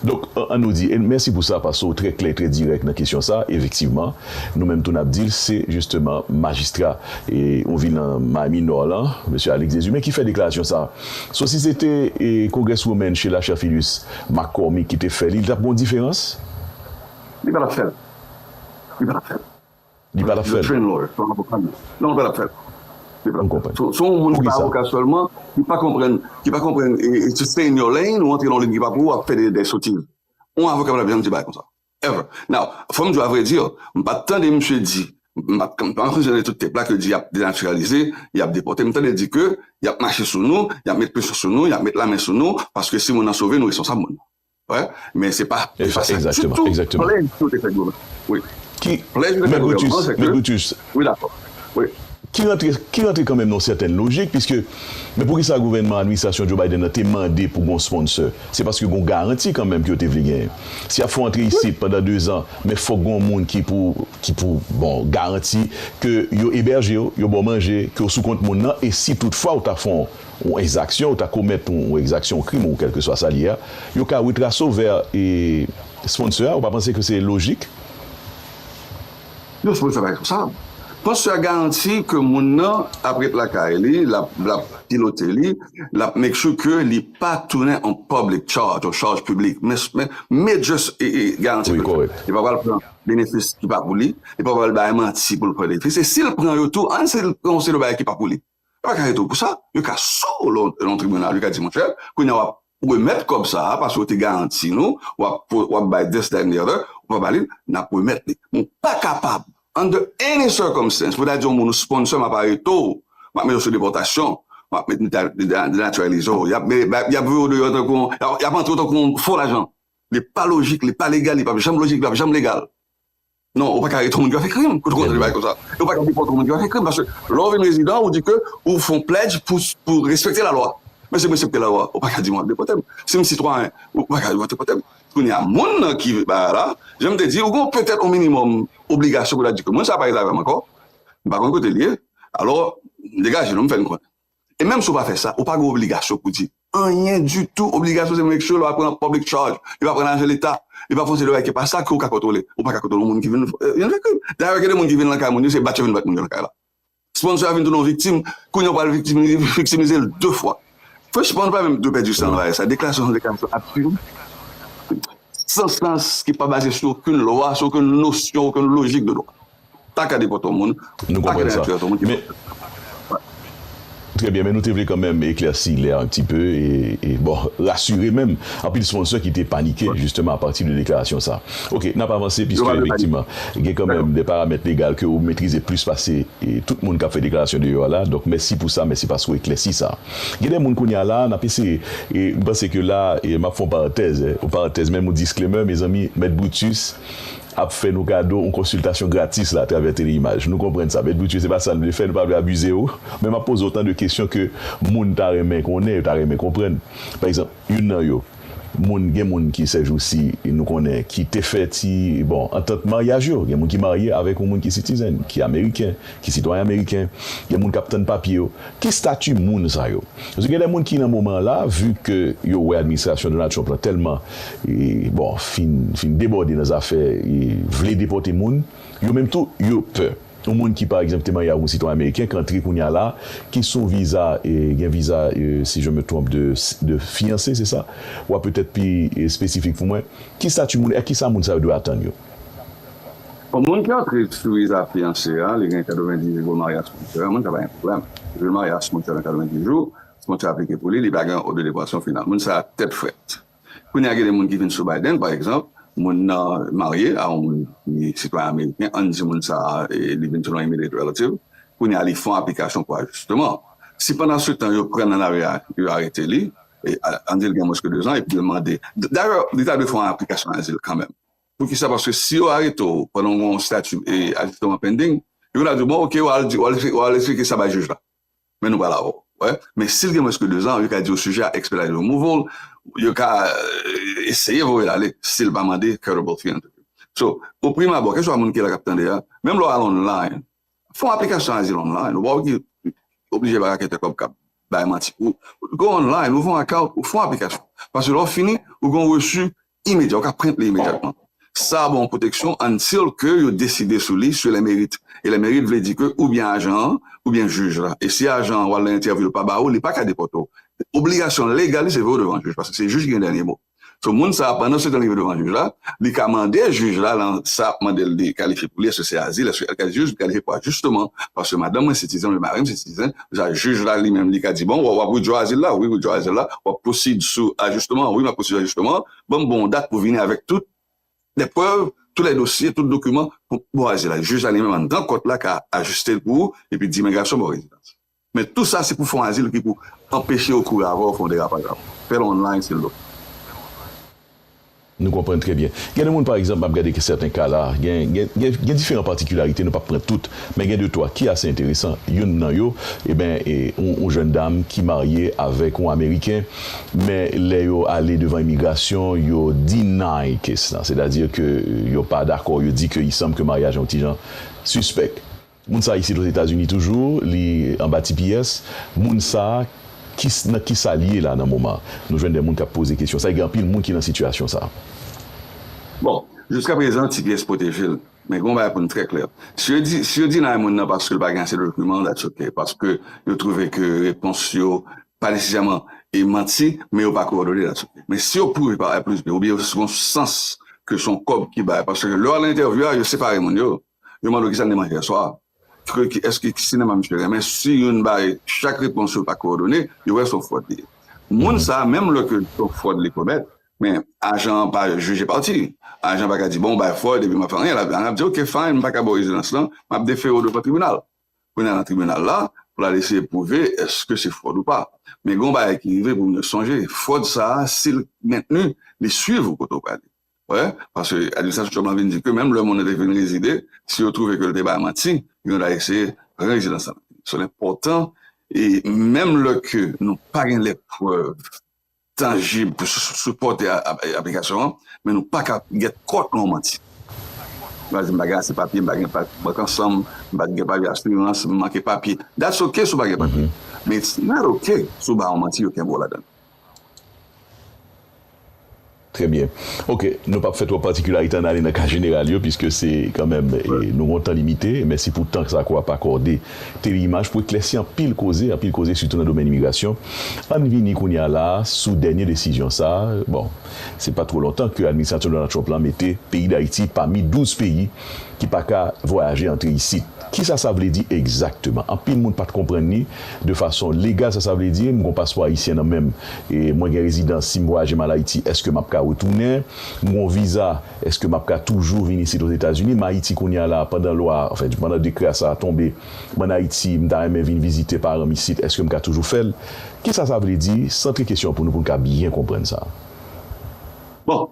Donk, an nou di, e mèsi pou sa paske ou trè klè e trè dirèk nan kesyon sa, efektivman, nou menm tou n ap di l se jisteman majistra e on vil nan Miami Nò lan, Mesye Alix Deshumé ki fè deklarasyon sa. So si se te e Congresswoman Sheila Cherfilus McCormick ki te fè li, li t ap gen on diferans? Li pa t ap fè l. Li pa t ap fè l. Li pa tap fèl. Train lawyer son avoka non non li pa tap fèl. M konprann. Son yon moun ki pa avoka sèlman ki pa konprann ki pa konprann to stay in your lane ou antre nan yon lane ki pa pou ou ap fè dè sotiz. Yon avoka pa tap janm di bagay konsa ever. Now fòm di w avrèdi m pat tande misye di m pat m pa konsidere tout tep la ke di yap denatiralize yap depòte m tande l di ke yap mache sou nou yap met presyon sou nou yap met lamen sou nou paske si moun nan sove nou responsab moun nan. Men se pa te sa ditou plèj yo te fè goumen. Plèj yo te fè goumen. Men Brutus, ki rantre kanmenm nan yon sèten lojik, piske men poukisa gouvènman administrasyon Joe Biden nan te mande pou gen yon sponsè, se paske gen yon garanti kanmenm ke yo te vle genyen. Si y ap fè w antre isit pandan dezan, men fòk gen yon moun ki pou garanti ke yo ebèje w, yo ba w manje, ke w sou kont moun nan, e si toutfwa ou ta fè yon. Yon ekzaksyon ou ta komèt, yon ekzaksyon, yon krim ou kèlkeswa sa l ye a, yo ka retrase w vè sponsor a, ou pa panse ke se lojik? Yon sponsor pa responsab. Sponsor a garanti ke moun nan ap ret lakay li, l ap pilote li, l ap make sure ke li pa tounen yon public charge, yon chaj piblik. Men major garanti ke l fè. Li pa pral pran benefis ki pa pou li, li pa pral bay manti pou l pran benefis, e si l pran yo tou, an si l pran yon seri de bagay ki pa pou li. Yo pa ka arete w pou sa. Yo ka sou w lè w nan tribinal, yo ka di, monchè, kounye a w ap remèt kòb sa a paske w te garanti nou w ap bay this, that and the other, ou pa ba li l, n ap remèt li. Men w pa kapab under any circumstance pou ta di yon moun ou sponsor m ap arete w, m ap mete w sou depòtasyon, m ap denatiralize w, y ap voye w deyò tankou yon, y ap antre w tankou yon fo lajan. Li pa lojik, li pa legal, li p ap janm lojik, li p ap janm legal. Non ou paka arete yon moun ki pa fè krim pou kontinye bay konsa e ou paka depote yon moun ki pa fè krim paske lè ou vin rezidan ou di ke ou fon pledge pou respekte lalwa men si mwen respekte lalwa ou paka di wap depotem si m sitwayen ou paka di wap depotem kounye a moun nan ki bagay la janm te di ou gon petèt yon minimòm obligasyon pou ta di ke moun sa pa rete avèm ankò m pa konn kote l ye alò m degaje nou m fè n konnen. E menm si w pa fè sa, ou pa gen obligasyon pou di anyen ditou. Obligasyon se menm eske lè w ap pran public charge, lè w ap pran lajan leta, lè w ap fè yon seri de bagay ki pa sa ke w ka kontwole. Ou pa ka kontwole yon moun ki vin fè krim. Dayè, gen de moun ki vin nan kay moun yo, se bat yo vin bat moun yo nan kay la. Sponsò a vin tounen yon viktim, kounye a ou pral viktimize l de fwa. Fresh Pond pa menm dwe pèdi san l nan sa. Deklarasyon sa se yon deklarasyon absid, san sans, ki pa baze sou okenn lwa, sou okenn nosyon, okenn lojik de dwa. Pa gade kont yon moun. Nou konprann sa. Men, Trè byen, men nou te vle kanmenm eklèsi lè a un petit peu e, bon, rasire menm anpil sponsor ki te panike justement a partir de deklarasyon sa. Ok, nap avanse piske efektivman gen kanmenm de paramèt legal ke ou metrize plis pase tout moun kap fè deklarasyon deyò a la. Donk mèsi pou sa, mèsi paske ou eklèsi sa. Gen de moun kounye a la, nap eseye e m panse ke la map fè yon parantèz, yon parantèz menm yon disclaimer, mezanmi, Mèt Brutus ap fè nou kado yon konsiltasyon gratis la atravè tele-imaj. Nou konprann sa, Mèt Brutus, se pa sa n vle fè, nou pa vle abize w, men m ap poze w tan de kesyon ke moun ta renmen konnen, yo ta renmen konprann. Pa egzanp, youn nan yo, moun, gen moun ki sèjousi, nou konnen, ki te fè ti, bon, antant maryaj yo. Gen moun ki marye avèk yon moun ki sitizèn, ki ameriken, ki sitwayen ameriken, gen moun k ap tann papye yo, ki stati moun sa yo? Paske gen de moun ki nan moman an la, vu ke yo wè administrasyon Donald Trump lan tèlman, bon, fin fin debòde nan zafè vle depòte moun, yo menm tou yo pè. Yon moun ki pa egzanp te marye avk yon sitwayen ameriken k antre kounya la, ki sou yon viza, gen viza si je me trompe de de fiyanse se sa? W a petèt pi espesifik pou mwen. Ki stati moun e kisa moun sa yo dwe atann yo? Bon moun ki antre sou viza fiyanse a li gen 90 jou pou maryaj sponsorè moun sa pa gen problèm jou maryaj sponsorè nan 90 jou sponsorè aplike pou li li pa gen oblideprasyon final moun sa tèt frèt kounye a gen de moun ki vin sou Biden pa egzanp moun nan marye a yon moun ki sitwayen ameriken ann di moun sa li vin sou yon immediate relative kounye a li fon aplikasyon pou ajisteman si pandan se tan yo prann nan lari a yo arete li ann di li gen mwens ke 2 zan epi yo mande dayè li ta dwe fon aplikasyon azil kanmenm. Poukisa? Paske si yo arete w pandan w gen yon stati ajisteman pending, yo vin ap di w, bon oke, w al esplike sa bay jij la. Men nou pral avè w. Ou wè? Men si l gen mwens ke dezan, yo ka di w sijè a ekspedite, yo move l, yo ka eseye voye l ale si l pa mande credible fear interview. So, o prim abò, keswa moun ki la k ap tande a, menm lè w al online, fè yon aplikasyon azil online, ou pa oblije bay raketè kòb k ap bay manti pou ou. Go online, ouvè yon account, ou fè yon aplikasyon. Paske lè w fini, ou gen yon resu Imedya, ou ka print li imedyatman. Sa a ba w yon pwoteksyon until ke yo deside sou li sur le mérite. E le mérite vle di ke oubyen ajan an, oubyen jij la. E si ajan an ou al nan entèvyou l pa ba ou, li pa ka depòte w. Obligasyon legal li se voye w devan jij, paske se jij ki gen dènye mo. So moun sa a pandan se tan li voye devan jij la, li ka mande jij la lan sa ap mande l li kalifye pou li, èske se azil, èske li kalifye, jij li kalifye pou ajisteman paske madanm mwen sitizen oubyen mari m sitizen, Sa jij la li menm li ka di bon wap withdraw azil la wi withdraw azil la wap proceed sou ajisteman an wi map proceed sou ajisteman an ban m bon dat pou vini avèk tout lè prèv tout lè dosye tout dokiman pou bon azil la jij la li menm anndan kòt la ka ajiste l pou ou epi di imigrasyon ba w rezidans men tou sa se pou fon azil ki pou anpeche yo kouri avè w fè yon derapaj avè w fè l online se lòt. Nou konprann trè byen. Gen de moun pa egzanp, m ap gade sèten ka la a, gen, gen, gen, gen diferan patikilarite, nou p ap pran tout, men gen de twa ki ase enteresan. Youn nan yo, eben, e, yon, yon jèn dam ki marye avèk yon Ameriken, men lè yo ale devan imigrasyon, yo deny kes la, sètadi ke yo pa dakò, yo di ke isanm ke maryaj an yon ti jan sispèk. Moun sa isit ozetazini toujou li anba tps moun sa kis nan kisal ye la nan moman nou jwenn de moun kap poze kesyon sa e gen anpil moun ki nan sitiyasyon sa. Bon jiska prezan tps pwotejel men gen yon bagay pou nou trè klè si yo di si yo deny moun nan paske li pa gen ase dokiman that's ok paske yo twouve ke repons yo pa nesesèman e manti men yo pa kowòdone that's ok men si yo pwouve pa a plis b oubyen se yon sans ke son kòb ki bay paske lè wap nan entèvyou a yo separe moun yo Yo mande w kisa li manje yèswa, eske ki sinema misye renmen, si youn bay chak repons yo pa kowòdone, yo wè se yon fwòd li ye. Moun sa a, menm lè ke se yon fwòd li komèt, men ajan an pa jije pati. Ajan an pa ka di, bon, ou bay fwòd epi m pa fè anyen. Ajan an ap di, ok, fine, m pa ka ba w rezidans lan, m ap defere w devan tribinal. Pou n al nan tribinal la, pou l al eseye pwouve eske se fwòd ou pa. Men gen yon bagay ki rive pou moun yo sonje, fwòd sa a, si l mentni, li swiv ou kote ou prale. Wè, paske administrasyon Trump lan vin di ke menm lè moun nan te vin rezide, si yo twouve ke li te bay manti, yo ta eseye pran rezidans lan. Sèl enpòtan, e menm lè ke nou pa gen lè prèv tanjib pou sipòte aplikasyon an, men nou pa ka gèt kont yon manti. Ou ka di m pa gen ase papye, m pa gen papye bank ansan m, m pa gen papye asirans, m manke papye. That's ok si w pa gen papye, men it's not ok si w bay yon manti yo kenbe w ladan. Trè byen. Ok, nou pap fè twòp patikilarite ann ale nan ka jeneral yo piske se kanmenm nou gen yon tan limite. Mèsi pou tan sa ke w ap akòde Tele-Imaj pou eklèsi anpil koze, anpil koze sitou nan domèn imigrasyon. Ann vini kounye a la a sou dènye desizyon sa a. Bon, se pa twò lontan ke administrasyon Donald Trump la mete peyi Dayiti pami 12 peyi ki pa ka vwayaje antre isit. Kisa sa vle di egzakteman? Anpil moun pat konprann li de fason legal sa sa vle di m gon paspò ayisyen nan menm e mwen gen rezidans si m vwayaje m al Ayiti eske map ka retounen? M gon viza eske map ka toujou vin isit Ozetazini? M Ayiti kounya la pandan lwa a anfen pandan dekrè a sa a tonbe m an Ayiti m ta renmen vin vizite paran m isit eske m ka toujou fè l? Kisa sa vle di? Santre kesyon an pou nou pou n ka byen konprann sa. Bon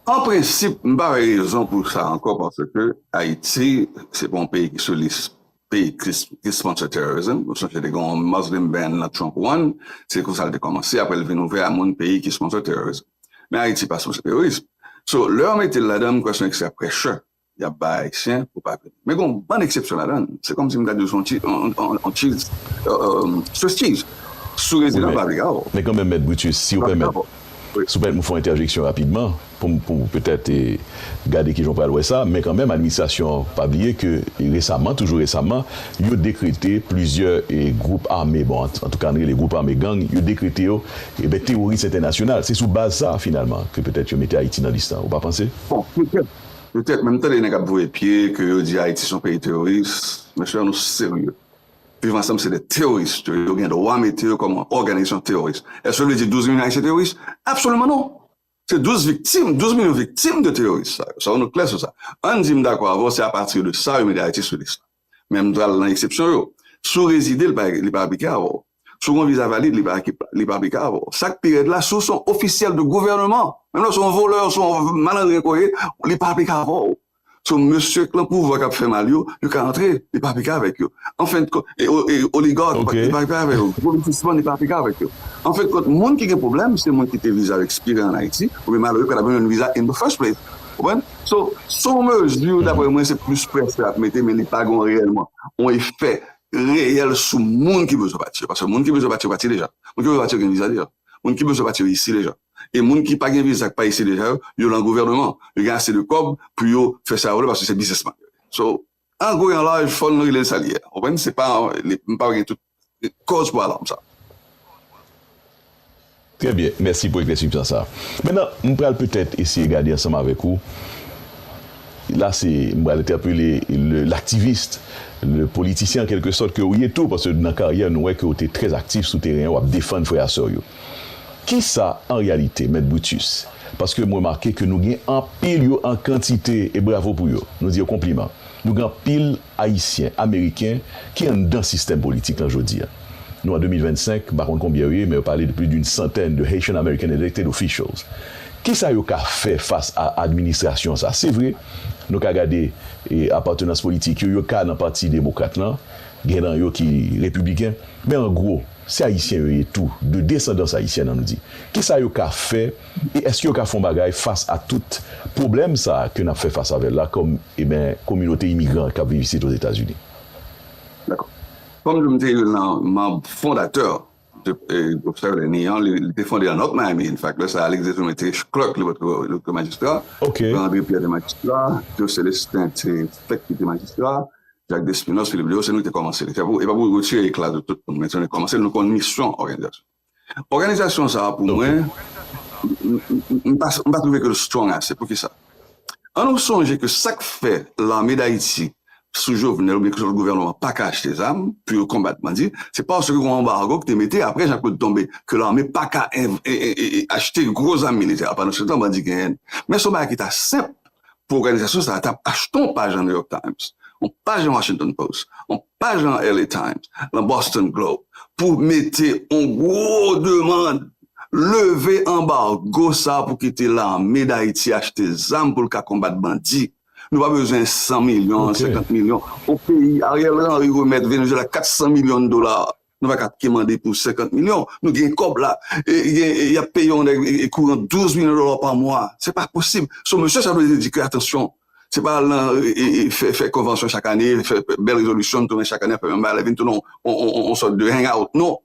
An prensip, m pa wè rezon pou sa ankò paske Ayiti se pa yon peyi ki sou lis peyi ki sponsor terrorism. Ou sonje te gen yon Muslim ban nan Trump one, se konsa l te kòmanse, aprè l vin ouvè a moun peyi ki sponsor terrorism. Men Ayiti pa sponsor terrorism. So, lè yo mete l ladan, m kwè se yon eksè pressure. Yap bay ayisyen pou pa vini. Men gen yon bann eksepsyon ladann. Se kòmsi m gad yo se yon ti yon tchiz Swiss cheese sou rezidan pa vle gaw. Men kanmenm mèt Brutus si ou pèmèt si ou pèmèt m fè yon entèjeksyon rapidman poum poum petèt gade kijan ou pral wè sa men kanmenm administrasyon an pa bliye ke resaman toujou resaman yo dekrete plizyè gwoup ame bon antouka n rele gwoup ame gang yo dekrete yo teworis entènasyonal se sou baz sa finalman ke petèt yo mete Ayiti nan lis la ou pa panse? Bon petèt Petèt menm tande nèg ap voye pye ke yo di Ayiti son peyi teroris, mesye an nou serye. Viv ansanm se 2 teroris, yo gen dwa mete yo kòm òganizasyon teroris. Èske sa vle di 12 milyon Ayisyen teroris? Absoliman non! Se 12 viktim, 12 milyon viktim de teroris sa yo. Sa yo nou klè sou sa. Ann di m dakò avè w se apati de sa yo mete Ayiti sou lis la. Men m pral nan eksepsyon yo. Si w rezide, li pa aplike avè w. Si w gen yon viza valid, li pa aplike avè w. Sa k pi rèd la, si w se yon ofisyèl de gouvèneman, menm lè w se yon volè, w se yon malandren ke w ye, li pa aplike avè w. So, mesye k lan pouvwa k ap fè mal yo, yo ka antre, li pa aplike avèk yo. Anfendkont, oligak, li pa aplike avè yo. Gwo biznisman, li pa aplike avèk yo. Anfendkont, moun ki gen pwoblèm, se moun ki te viza yo ekspire an Ayiti, oubyen malere yo pa t ap jwenn yon viza in the first place. Konprann? So, se yon mezi, dapre mwen, se plis prèske ap mete, men li pa gon reyèlman yon efè reyèl sou moun ki bezwen pati yo. Paske moun ki bezwen pati yo pati deja. Moun ki bezwen pati yo gen viza deja. Moun ki bezwen pati yo isi deja. E moun ki pa gen viza, ki pa isi deja yo, yo lan gouvèneman. Yo gen ase de kòb pou yo fè sa yo vle paske se biznisman yo ye. So, An gwo e an laj fò n rele l sa l ye a. Ou konprann? Se pa m pa gen tout kòz pou alarm sa. Trè byen. Mèsi pou eklèsipsan sa. Mentnan, m pral petèt eseye gade ansanm avèk ou, la se m pral entèpele le l'activist, le politisyen an kèlke sòt ke ou ye tou, paske nan karyè nou wè ke ou te trè aktif sou teren an, w ap defann frè a sè w yo. Kisa an reyalite, Mèt Brutus? Paske m remake ke nou gen anpil yo an kantite, e bravo pou yo, nou di yo konpliman. Nou gen anpil Ayisyen, Ameriken ki anndan sistèm politik lan jodi a. Nou an 2025, m pa konn konbyen yo ye, men yo pale de plis d'une centaine de Haitian American elected officials. Kisa yo ka fè fas a administrasyon sa? Se vre, nou ka gade apatenans politik yo, yo ka nan pati demokrat lan, gen nan yo ki repibliken, men an gwo, Se Ayisyen yo ye tou, de desandans Ayisyen an m di. Kisa yo ka fè e èske yo ka fè yon bagay fas a tout pwoblèm sa a ke n ap fè fas avè l la kòm eben kominote imigran k ap viv isit Ozetazini? Dakò. Kòm m te youn nan manb fondatè de gwoup sa yo lè ni an, li te fonde an North Miami, en fact, lè sa a Alexis Dumas te clerk, li pa te majistra, Jean André Pierre te majistra, Joe Celestin te fèk kite majistra, Jacques Despinosse, Philippe Léaud, se nou ki te kòmanse l. E pa pou retire ekla sou tout moun, men se nou ki te kòmanse l, nou konn misyon òganizasyon. Òganizasyon sa a pou mwen, m pa twouve ke l strong ase. Pou ki sa? An nou sonje ke sa k fè lame Dayiti sou Jovenel oubyen kèlkesòt lòt gouvènman pa ka achte zam pou yo konbat bandi, se paske gon anbargo ki te mete apre Jean Claude tonbe ke lame pa ka achte gwo zam militè. Pandan se tan bandi genyen l. Men se yon bagay ki ta senp pou òganizasyon sa a ta achte yon paj nan New York Times, yon paj nan Washington Post, yon paj nan LA Times, nan Boston Globe pou mete yon gwo demand, leve anbargo sa pou kite lame Dayiti achte zam pou l ka konbat bandi. Nou pa bezwen 100 milyon, 50 milyon. Yon peyi, Ariel Henry remèt Venezuela 400 milyon dola Nou pa ka kemande pou 50 milyon. Nou gen kòb la. Y ap peye yon nèg kouran 12 milyon dola pa mwa. Se pa posib. So mesye sa vle di ke atansyon, se pa al nan fè konvansyon chak ane, fè bèl rezolisyon, tounen chak ane ap fè menm bagay la, vin tounen yon sòt de hang out. Non.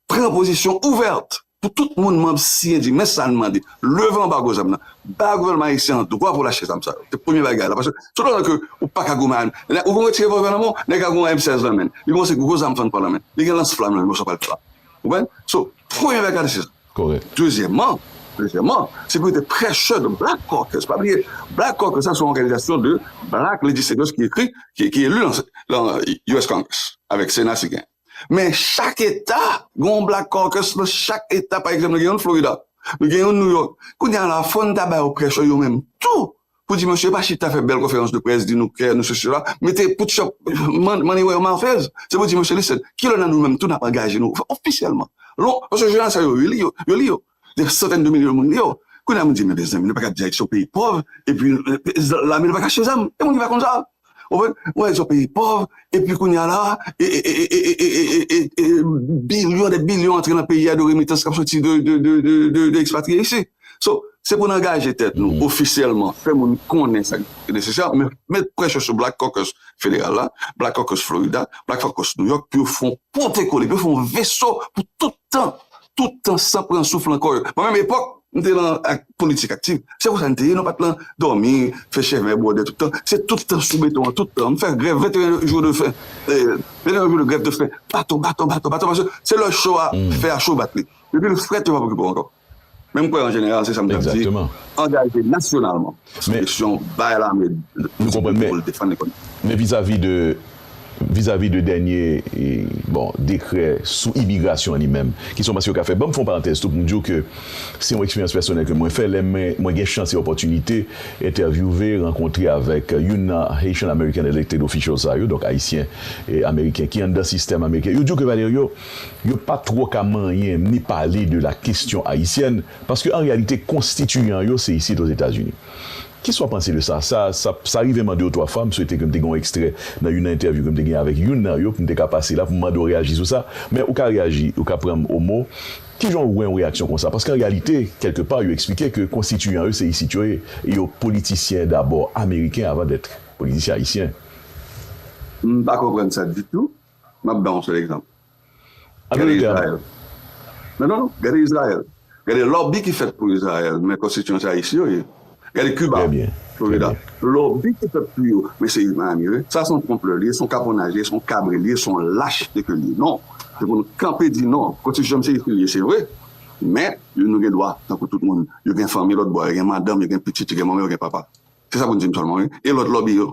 Pran pozisyon ouvète. Pou tout moun manb CNDI, men sa n mande, leve anbago zam nan, bay gouvènman ayisyen an dwa pou l achte zam sa yo. Se premye bagay la. Paske toutotan ke ou pa ka goumen ak li, ou goumen ti revòlvè nan men w, nèg la goumen ak M 16 nan men l, li goumen se gwo zam fann pran nan men l, li gen lans flanm nan men l, sa pa l flanm. Ou konprann? So, premye bagay la se sa. Kòrèk. Dezyèmman, dezyèmman, se pou yo te prèchè de Black Caucus. Pa bliye, Black Caucus la se yon òganizasyon de Black Legislators ki ekri, ki elu lan US Congress, avèk Sena si genyen. Men chak eta gen yon Black Caucus nan chak eta pa egzanp nou gen youn Florida nou gen youn New York kounye a la fòn ta ba yo pressure yo menm tou pou di mesye pa chita fè bèl konferans de près di nou kè nou sesi sela mete put shop money where your mouth is se pou di mesye listen kilè nan nou menm tou nap angaje nou ofisyèlman lon paske jounal sa yo li yo yo li yo Dè santèn de milyon moun yo. Kounye a m di men mezanmi nou pa ka di Ayiti se yon peyi pòv epi lame nou pa ka achte zam. Gen moun ki pa konn sa. Ou konprann? Ou wè Ayiti se yon peyi pòv epi kounye a la e bilyon dè bilyon antre nan peyi a de remitans k ap soti de ekspatriye isi. So, se pou n angaje tèt nou ofisyèlman, fè moun konnen sa ki nesesè, met presyon sou Black Caucus federal la, Black Caucus Florida, Black Caucus New York pou yo fè yon potekole, pou yo fè yon veso pou tout tan tout tan san pran souf lan kò yo. Mwen menm epòk m te lan politik aktiv, se konsa n te ye nou pa t lan dòmi, fè chèvè bwòdè tout tan, se tout tan sou beton an tout tan. M fè grèv 21 jou de fen, 21 jou de grèv de fen, baton, baton, baton, baton paske se lè cho a, fè a cho bat li. Depi l frèt yo pa p okipe w ankò. Men m kwè an jeneral se sa m t ap di, angaje nasyonalman. Seleksyon bay lame disipline pou l defann lekòl. Men vizavi de vizavi de dènye bon dekrè sou imigrasyon an li menm, ki son pas yo ka fè? Ban m fè yon parantèz tou pou m di w ke se yon eksperyans pèsonèl ke mwen fè lè men mwen gen chans e opòtinite entèvyouve, rankontre avèk youn nan Haitian American Elected Officials sa yo, donk Ayisyen Ameriken ki anndan sistèm Ameriken. Yo di w ke Valerio, yo pa twò ka manyen ni pale de la kesyon ayisyèn Paske an reyalite konstitiyan yo se isit Ozetazini. Kis w ap panse de sa? Sa, sa, sa rive m an de ou twa fwa, m swete ke m te gen yon ekstrè nan youn nan entèvyou ke m te gen avèk youn nan yo pou m te ka pase la pou m mande w reyaji sou sa. Men ou ka reyaji, ou ka pran m o mo. Ki jan w wè yon reyaksyon konsa? Paske an reyalite, kèlke pa, yo eksplike ke konstitiyan yo se isit yo ye, e yo politisyen dabò ameriken avan dèt politisyen ayisyen. M pa konprann sa ditou. M ap ba yon sèl egzanp. Gade Izrayèl. Non, non, non. Gade Izrayèl. Gade lòbi ki fèt pou Izrayèl, men konstitisyon se Ayisyen yo ye. Gade Kiba, Florida. Lòbi ki fèt pou yo, men se Miami yo ye. Sa se yon twonplè li ye, se yon kaponnaj li ye, se yon kabre li ye, se yon lach de ke li ye. Non. Se pou nou kanpe di non. Konstitisyon m se ekri li ye, se vre. Men, yo nou gen dwa tankou tout moun. Yo gen fanmi lòtbò a. Yo gen madanm, yo gen pitit, yo gen manman, yo gen papa. Se sa pou n di m sèlman wi. E lòt lòbi yo?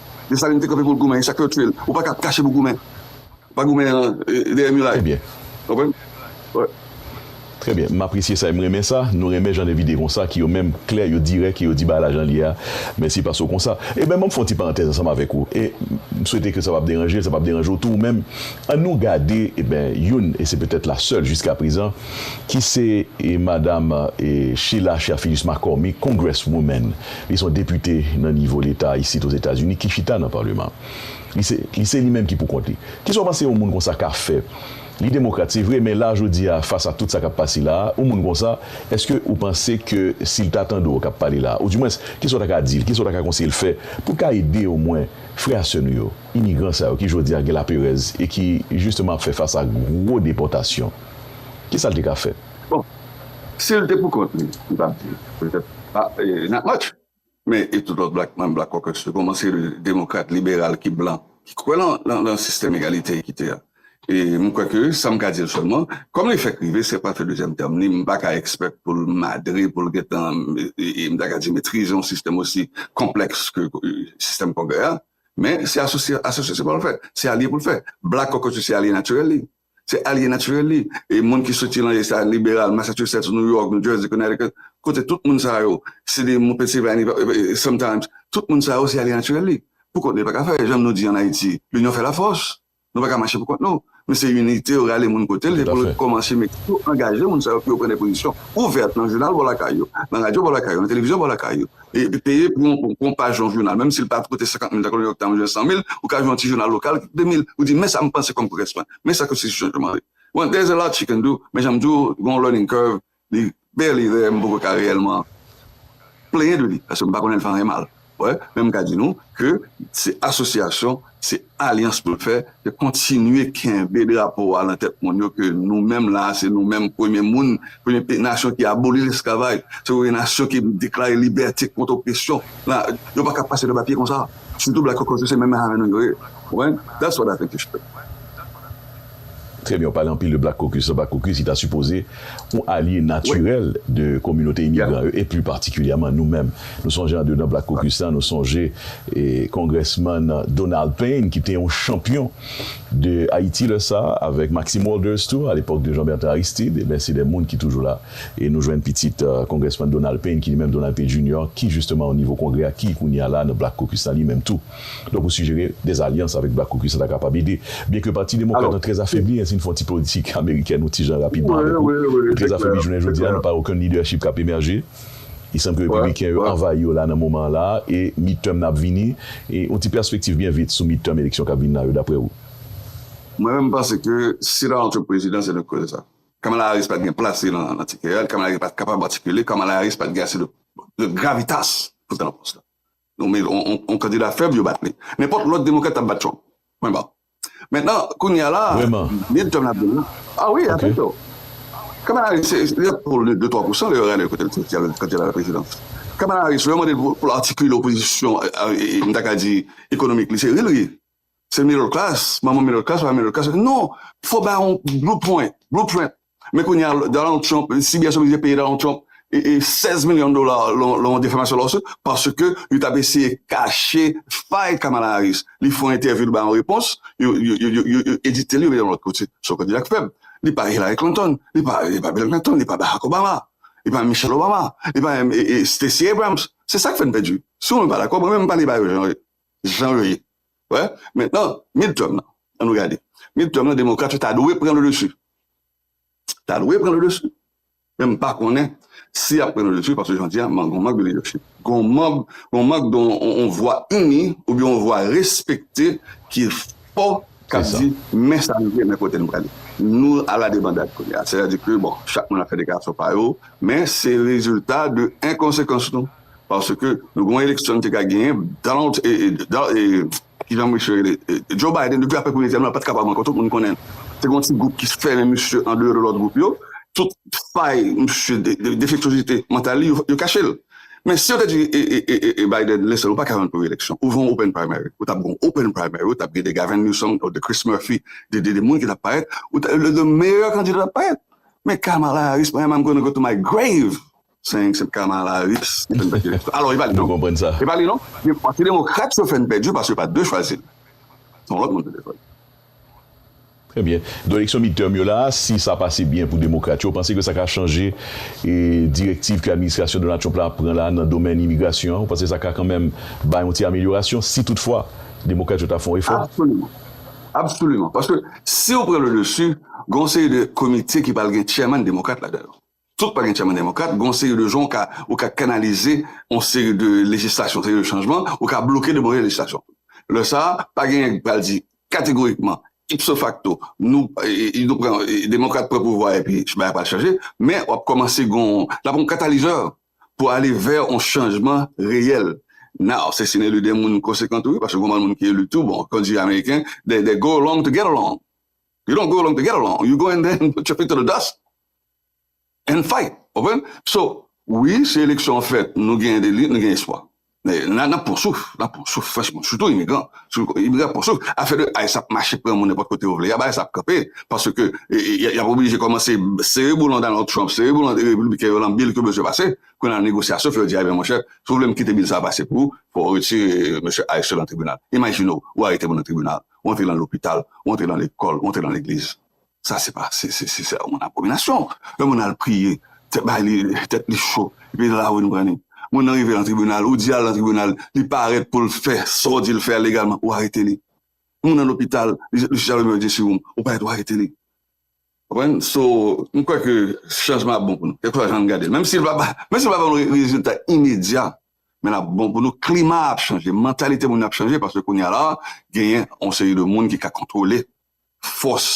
Desalin te kanpe pou l goumen, e sa k fè yo tiye l. Ou pa ka ap kache pou goumen. Pa goumen dèyè miray. Trè byen. Ou konprann? Wi. Trè byen. M apresye sa e m renmen sa. Nou renmen jan envite konsa ki yo menm klè, yo dirèk e yo di bagay la jan l ye a. Mèsi paske w konsa. E ben, m ap fè yon ti parantèz ansanm avèk ou. E m swete ke sa pa p deranje l, sa pa p deranje w tou ou menm. An nou gade, e ben, youn, e se petèt la sèl jiskaprezan, ki se e madam e Sheila Cherfilus-McCormick, Congresswoman. Li se yon depite nan nivo leta isit Ozetazini ki chita nan paleman. Li se li se li menm ki poukont li. Ki sa w panse yon moun konsa ka fè? Li demokrat, se vre, men la jodi a fas a tout sa k ap pase la a, yon moun konsa, èske ou panse ke si l ta tande w k ap pale la a, oudiwens, ki sa w ta ka di l, ki sa w ta ka konseye l fè pou l ka ede omwen frè a sè nou yo, imigran sa yo ki jodi a gen laperèz e ki jisteman ap fè fas a gwo depòtasyon? Ki sa l te ka fè? Bon, si l te pou kont li, li pa t di petèt not much. Men, e tout lòt blak manm Black Caucus yo, kòmanse demokrat, liberal ki blan, ki kwè lan sistèm egalite, ekite a. E m kwè ke sa m ka di l sèlman, kòm li fèk rive, se pa fè dezyèm tèm li, m pa ka ekspèk pou l madre, pou l gen tan, m ta ka di metrize yon sistèm osi konplèks ke sistèm Kongrè a. Men, se asosye, asosye se pa l fè, se alye pou l fè. Black Caucus se alye natirèl li. Se alye natirèl li. E moun ki soti lan Eta liberal, Massachusetts, New York, New Jersey, Connecticut, kote tout moun sa yo, CD moun Pennsylvania, sometimes, tout moun sa yo se alye natirèl li. Pou kont li yo pa ka fè. Jan nou di an Ayiti, l'union fait la force. Nou pa ka mache pou kont nou. Men se inite yo rale moun kote l e pou l kòmanse mete tou, angaje moun sa yo pou yo pran de pozisyon ouvèt lan jounal bò lakay yo, lan radyo bò lakay yo, lan televizyon bò lakay yo. peye pou yon paj yon jounal, menm si l pa koute 50 mil tankou New York Times oubyen 100 mil, ou ka jwenn yon ti jounal lokal ki koute 2 mil, ou di men sa m panse kòm korespan, men sa konstitisyon an mande. Bon, there's a lot you can do, men jan m di w, gen yon learning curve, li barely there, m poko ka reyèlman plenyen de li, paske m pa konnen l fè anyen mal, wè, men m ka di nou ke se asosyasyon Se alyans mwen fè, se kontinye kenbe drapo a lan tèt moun yo ke nou menm la a, se nou menm premye moun, premye peyi nasyon ki aboli lesklavaj, se premye nasyon ki deklare libète kont opresyon. Yo pa ka pase nou pa pye konsa. Sitou Black Caucus yo se menm menm avè nou yo ye. Ou konprann? That's what I think you should do. Trè byen, w pale anpil de Black Caucus la, Black Caucus ki ta sipoze yon alye natirèl de kominote imigran yo e pli patikilyèman nou menm. Nou sonje andedan Black Caucus la, nou sonje Kongrèsman Donald Payne ki te yon chanpyon de Ayiti lè sa a avèk Maxime Walders tou a lepòk de Jean-Bertrand Aristide, enben se de moun ki toujou la e nou jwenn pitit Kongrèsman Donald Payne ki li menm Donald Payne Junior ki jisteman onivo Kongrè a ki kounye a la nan Black Caucus la li menm tou. Donk ou sijere des alyans avèk Black Caucus la ta kapab ede. Byen ke Pati Demokrat lan trè afebli e si n fè yon ti politik amerikèn yon ti jan rapidman avèk ou, li trè afebli jounen jodi a, nou pa wè okenn lidèchip k ap emèje. Li sanble ke Repibliken yo anvayi yo la nan moman an la a e midterm nan ap vini. Yon ti pèspektiv byen vit sou midterm eleksyon k ap vin la yo daprè ou? Mwen menm m panse ke si l antre prezidan se de koze sa. Kamala Harris pa t gen plas li nan tikè a, Kamala Harris pa t kapab atikile, Kamala Harris pa t gen ase de gravitas pou l ta nan pòs la. Nou men yon kandida fèb yo bat li. Nenpòt lòt demokrat tap bat Trump. Pwen ba. Mentnan kounye a la midterm la ap vini. Ah wi a fè cho. Kamala Harris se li ap pou de twa pousan lè yo gade kote l soti a kant li al laprezidans. Kamala Harris lè yo mande l pou l atikile opozisyon m ta ka di ekonomik li se ri l ri. Se middle class, manman middle class pa middle class, non, fò ba yon bluepoint, blueprint, men kounye a Donald Trump, CBS oblije peye Donald Trump 16 milyon dola lan yon defamasyon lawsuit paske yo tap eseye kache fay Kamala Harris, li fè yon entèvyou li bay yon repons, yo edite l yo mete l yon lòt kote, se yon kandida ki fèb, li pa Hillary Clinton, li pa Bill Clinton, li pa Barack Obama, li pa menm Michelle Obama, li pa menm Stacey Abrams, se sa k fè n pèdi, si ou menm pa dakò, mwen menm m pale ba yo jan yo ye. jan yo ye wè men nan midterm nan an nou gade midterm nan demokrat yo ta dwe pran le dessus ta dwe pran le dessus men m pa konnen si yap pran le dessus paske jan di a mank gon mank de leadership gon mank gon mank de yon vwa ini oubyen yon vwa respekte ki fò kap di men sa nou ye men kote nou prale nou ala debandad kounye a sètadi ke bon chak moun ap fè deklarasyon pa yo men se rezilta de enkonsekans nou. paske nou gen yon eleksyon nou te ka genyen Donald kijan mesye yo rele Joe Biden depi aprè premye tèm nan li pat kapab ankò tout moun konnen se gen yon ti gwoup ki fèmen misye an deyò de lòt gwoup yo tout fay misye defektozite mantal li yo kache l men si yo te di Biden listen ou paka rann pou reeleksyon ou van open primary ou tap gen yon open primary ou tap gen de Gavin Newsom de Chris Murphy de moun ki tap parèt ou ta gen de meyè kandida k ap parèt men Kamala Harris mwen menm am gonna go to my grave Sen eksèp Kamala Harris ki fè n pèdi eleksyon. Alò, e pa li non. Nou konprann sa. E pa li non. Se demokrat yo fè n pèdi paske yo pa t dwe chwazi l. Se yon lòt moun ki dwe chwazi l. Trè byen. Donk eleksyon midterm yo la a, si sa pase byen pou demokrat yo, ou panse ke sa ka chanje direktiv ke administrasyon Donald Trump la ap pran la a nan domèn imigrasyon an? Ou panse sa ka kanmenm bay yon ti amelyorasyon si toutfwa demokrat yo ta fè yon efò? Absoliman. Absoliman. Paske si yo pran le dessus, gen yon seri de komite ki pral gen chairman demokrat ladan yo. Tout pa gen chaman demokrat, gen yon seri de jan ou ka kanalize yon seri de lejislasyon, yon seri de chanjman, ou ka bloke de move lejislasyon. Lè sa a, pa gen nèg ki pral di kategorikman, ipso facto, nou, nou pran, demokrat pran pouvwa epi bagay pral chanje, men w ap kòmanse gen yon, l ap yon katalizè pou ale vè yon chanjman reyèl. Now, se si n eli 2 moun konsekan tou wi, paske gen yon moun ki eli tou, bon, kòm di ameriken, they go along to get along, you don't go along to get along, you go in there and put your feet to the dust. and fight ou konprann so wi si eleksyon an fèt nou gen deli nou gen espwa men nap pwan souf nap pwan souf franchman sitou imigran imigran ap pwan souf afè de ice ap mache pran moun nenpòt kote yo vle ice ap kanpe paske yap oblije kòmanse sere boulon Donald Trump sere boulon repibliken yo lan bil ke bezwen pase kounya nan negosyasyon fè yo di ebyen monchè si w vle m kite bil sa a pase pou ou fò w retire mesye ice yo lan tribinal imajine w ou arete moun nan tribinal ou antre lan lopital ou antre lan lekòl ou antre lan legliz. Sa se pa se se se yon abominasyon. Yon moun al priye, tèt bay li tèt li cho, epi nan lari nou pran li. Moun nan rive nan tribinal, ou di al nan tribinal, li parèt pou l fè sa w di l fè a legalman, ou arete li. Moun nan lopital, li li chita limyè li di sou moun, ou parèt ou arete li. Konprann? So, m kwè ke chanjman ap bon pou nou, kèlkeswa jan nou gade l. Menm si l pa ba menm si l pa ban nou rezilta imedya, men l ap bon pou nou. Klima a ap chanje, mantalite moun yo ap chanje, paske kounye a la a, genyen yon seri de moun ki ka kontwole fòs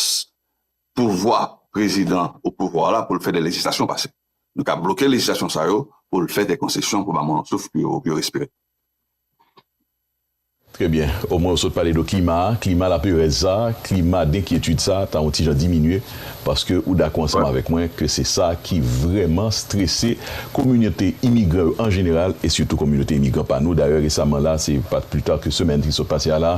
pouvwa prezidan o pouvwa a la pou l fè de lejislasyon pase. Nou ka bloke lejislasyon sa yo pou l fè de konsesyon pou ba moun yon souf pou yo pou yo respire. Trè byen. Omwen ou sot pale de klima a, klima laperèz sa, klima denkyetid sa ta yon ti jan diminye paske ou dakò ansanm avèk mwen ke se sa ki vrèman strese kominote imigran yo an jeneral e sitou kominote imigran pa nou. Dayè resaman la, se pa plitar ke semèn ki sot pase a la,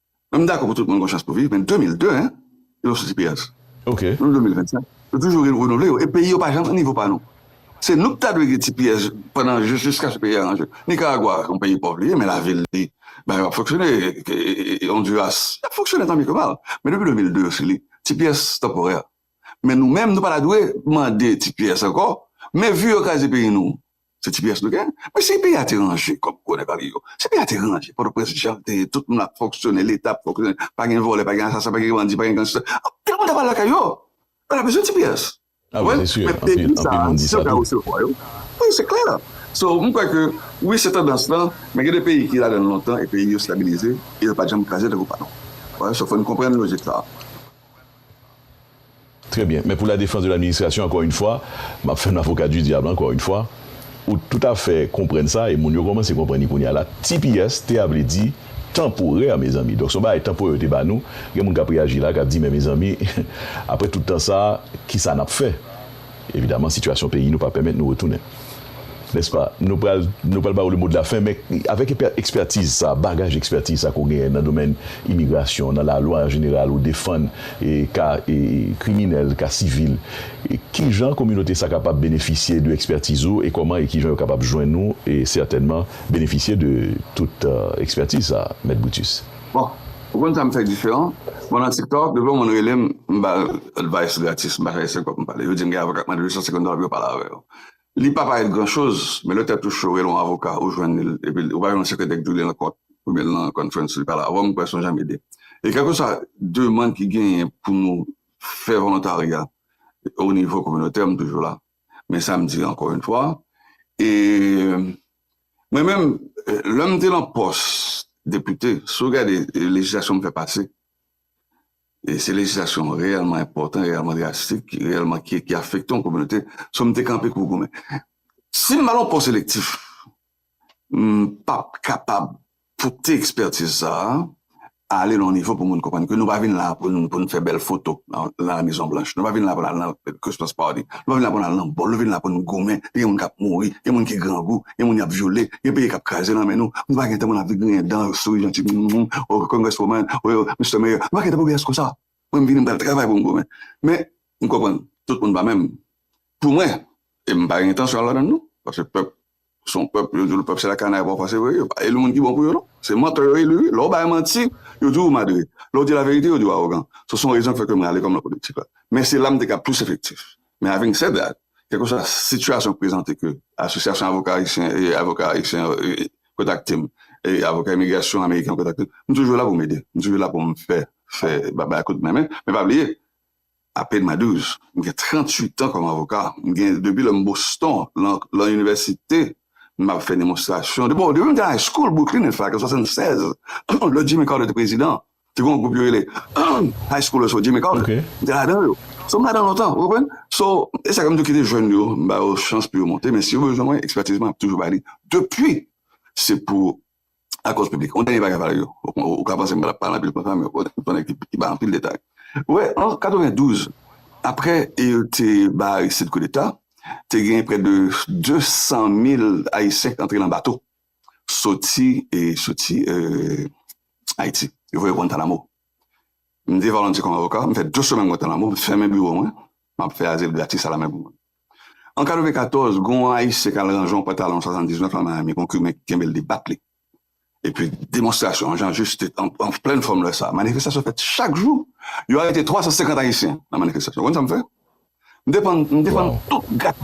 M dakò pou tout moun gen yon chans pou viv men 2002 hein yo nou soti peyaz Ok. nou nan 2025 yo toujou renouvle yo e peyi yo pa janm nan nivo pa nou se nou ki ta dwe gen ti pyès pandan jiskaske peyi a ranje Nicaragua son peyi pòv li ye men lavil li bagay yo ap fonksyone Honduras y ap fonksyone tan byen ke mal men depi 2002 yo fini ti pyès tanporè men nou menm nou pa ta dwe mande ti pyès ankò men vu yo kraze peyi nou Se tps nou gen? Men si peyi a te ranje kòm gwo nèg anvi yo, si peyi a te ranje pòtoprens jan l te ye tout moun ap fonksyone leta ap fonksyone pa gen vòlè pa gen asasen pa gen bandi pa gen gangstè tout moun t ap al lakay yo yo pa t ap bezwen tps ou konprann men peyi sa a si yo ta resevwa yo wi se klè so m kwè ke wi se tandans lan men gen de peyi ki ladan l lontan e peyi yo stabilize e yo pa janm kraze tankou pa nou ou wè so fò n konprann lojik sa a. Très bien. Men pou la defans de l'administration ankò yn fwa, map fè m avocat du diable ankò yn fwa, ou tout a fè konprann sa e moun yo kòmanse konprann li kounya la, tps te a vle di tanporè mezanmi, donk se yon bagay tanporè yo te ba nou, gen moun kap reyaji la kap di men mezanmi aprè tout tan sa kisa nap fè? Evidaman sitiyasyon peyi nou pa pèmèt nou retounen. Nèspa? Nou pral nou pral ba ou le mo de la fen men avèk ekspètiz sa, bagaj ekspètiz sa ke w genyen nan domèn imigrasyon, nan lalwa an jeneral ou defann ka kriminèl, ka sivil. Kijan kominote sa kapab benefisye de ekspètiz ou e kòman e kijan yo kapab jwenn ou e sètènman benefisye de tout ekspètiz sa, Mèt Brutus? Bon ou konn sam fè diferan mwen nan tiktok depi yon moun relem m bal advice gratis m pa chache se kòb m pale yo dim gen avoka k mande 850 dola pou yo pale avèw li pa parèt gran choz men lè tèt ou cho rele yon avoka ou jwenn li epi ou pa jwenn yon sekretè k di w li nan kòt oubyen li nan conference li pale avèw m kwè son jan m ede e kèlkeswa demand ki genyen pou nou fè volontaryat o nivo kominotè m toujou la. Men sa m di ankò yn fwa, e mwen menm lè m te lan pòs depite, si w gade lejislasyon m fè pase, e se lejislasyon reyèlman enpòtan, reyèlman drastik, reyèlman ki afekte yon kominote, so m te kanpe pou goumen. Si m al lan pòs elektif, M pap kapab pote ekspertiz sa a ale nan yon nivo pou moun konprann ke nou pa vin la a pou nou fè bèl foto nan La Mezon Blanch, nou pa vin la a pou nou al nan Christmas Party, nou pa vin la a pou nou al nan bòl, nou vin la a pou nou goumen, gen moun k ap mouri, gen moun ki grangou, gen moun y ap vyole, gen peyi k ap kraze nan men nou, nou pa gen tan pou nou ap griyen dan, souri janti, m m m, oh Congresswoman, oh Mister Mayor, nou pa gen tan pou bagay konsa. Mwen m vini m pral travay pou m goumen. Men, m konprann, tout moun pa menm. Pou mwen, e m pa gen entansyon al ladan l non, paske pèp Son pèp yo dil pèp se la kanay pafwa se vre yo pa eli moun ki bon pou yo non se mantè yo eli wi lè ou bay manti yo di ou madre lè ou di laverite yo di ou awogan so son rezon ki fè ke m rale kò m nan politik la men se la m te ka plis efektif men aving sèd dat kèlkeswa sitiyasyon k prezante ke asosyasyon avoka ayisyen e avoka ayisyen yo kontakte m e avoka imigrasyon ameriken yo kontakte m m toujou la pou m ede m toujou la pou m fè fè ba bay kout men men men pa bliye Apenas 12, m gen 38 tan kòm avoka. M gen depi lè m Boston lan lan inivèsite m ap fè demonstrasyon. Depi bon depi m te high school Brooklyn in fact an 76 lè Jimmy Carter te prezidan te gen yon gwoup yo rele high schoolers for Jimmy Carter m te ladan yo. So m ladan lontan ou konprann. So e sa k fè m toujou kite jèn yo m ba yo chans pou yo monte men si yo bezwen mwen expertise mwen ap toujou ba li depi se pou ak kòz piblik. Yon dènye bagay valè yo, ou ka panse mwen ap pale anpil konsa men fòk ou konnen ki bay anpil detay. Wè, an 92, aprè yo te bay Aristide koudeta, te gen prè de 200 mil Ayisyen ki antre nan bato soti Ayiti. Yo voye Guantanamo. M te volontye kòm avoka, m fè 2 semèn Guantanamo, m fèmen biwo mwen, m ap fè azil gratis alamè pou moun. An 94, gen yon Ayisyen k al ranje yon pantalon 79 la Miami, gen yon Kiben ki kenbe l li bat li. Epi demonstrasyon an Jean-Juste te an plen fòm lè sa a. Manifestasyon fèt chak jou. Yo arete 350 Ayisyen nan manifestasyon. Ou konn sa m fè? M defann m defann tout gat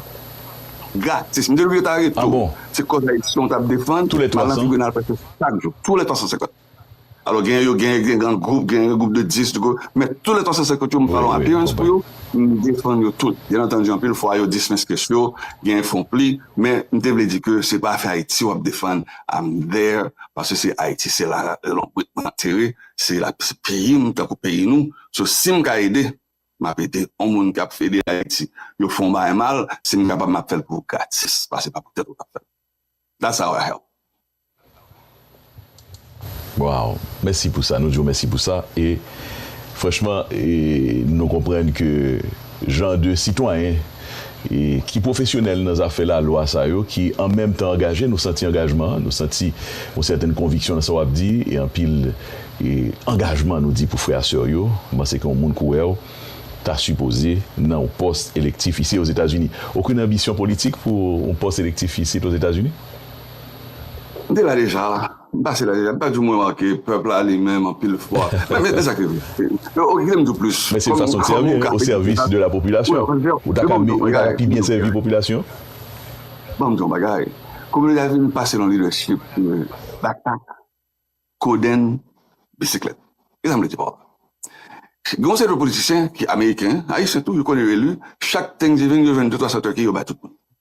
gratis. M te oblije ta arete tou. Se kòz Ayisyen w t ap defann, m al nan tribinal prèske chak jou. Tou lè 350. Alò genyen yo genyen gen gran gwoup, genyen gen gwoup de 10, de gwoup, men tou lè 350 yo m pa yon appearance pou yo, m defann yo tout. Byen antandi anpil fwa yo dismeskes yo, genyen fon pli, men m te vle di ke se pa afè Ayiti wap defann I'm there paske se Ayiti se la lonbrit mwen antere, se la se peyi m tankou peyi nou, so si m ka ede map ede yon moun kap ede Ayiti, yo fon bagay mal si m kapab map fèl pou gratis paske se pa pou tèt ou wap fèl that's how I help. Waw mèsi pou sa nou diw mèsi pou sa e franchman e nou konprann ke jan de sitwayen e ki pwofesyonèl nan zafè lalwa sa yo ki an menm tan angaje nou santi angajman an nou santi yon sèten konviksyon nan sa wap di e anpil e angajman nou di pou frè a sè yo m'panse ke yon moun kou wèw ta sipoze nan yon pòs elektif isi ozetazini okenn anbisyon politik pou yon pòs elektif isit ozetazini. M te la deja, m pase la deja, m pa di w mwen manke pèp la li menm anpil fwa. Men sa ki vre. Ok kite m di w plis. Men se fason w sèvi wi, o sèvis de la popilasyon. Ou ta ka ou ta ka pi byen sèvi popilasyon. Ban m di w yon bagay. Kominite a vin pase nan lidèchip Batak, Kodenn, Bisiklèt. Ki sa m vle di pa w la? Gen yon seri de politisyen ki ameriken, ayisyen tou, yo konn yo eli, chak Thanksgiving yo jwenn de twa santè ki yo bay tout moun.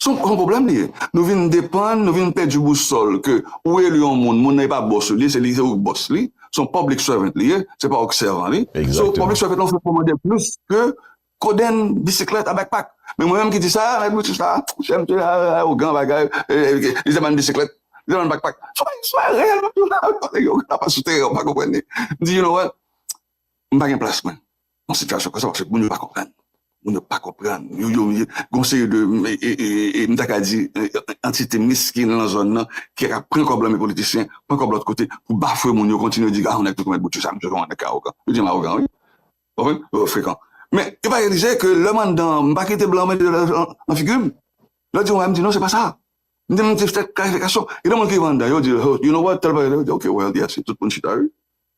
Son son pwoblèm li ye. Nou vin depann, nou vin pèdi bousòl ke ou eli yon moun, moun nan e pa bòs ou li ye, se li se ou ki bòs li. Son public servant li ye, se pa ou ki sèvan li. So, public Exactement. servant lan fè kòmandè plis ke kodenn, bisiklèt a backpack. Men mwen menm ki di sa, mèt Brutus la, chè msye a arogan bagay, li te ban n bisiklèt, li te ban n backpack. Son bagay, son bagay reyèl map di w la, son bagay yo, yo ka pa sou teren, ou pa konprann li. M di you know what, m pa gen plas mwen. yon sitiyasyon konsa paske moun yo pa konprann, moun yo pa konprann, yo yo gen yon seri de m ta ka di antite meskin lan zòn lan ki ap pran kòb lan men politisyen pran kòb lòt kote pou bafwe moun yo kontinye di a nèg tout konèt bout yo sa misye se yon nèg ki awogan, yo di m awogan wi ou konprann, yo frekan men yo pa reyalize ke lè m anndan m pa kite blan mete dwèt nan figi m lè yo di m bagay m di non se pa sa m di m se klarifikasyon, gen de moun ki rive anndan yo di you know what tèl bagay, yo di ok well yes tout moun chita wi.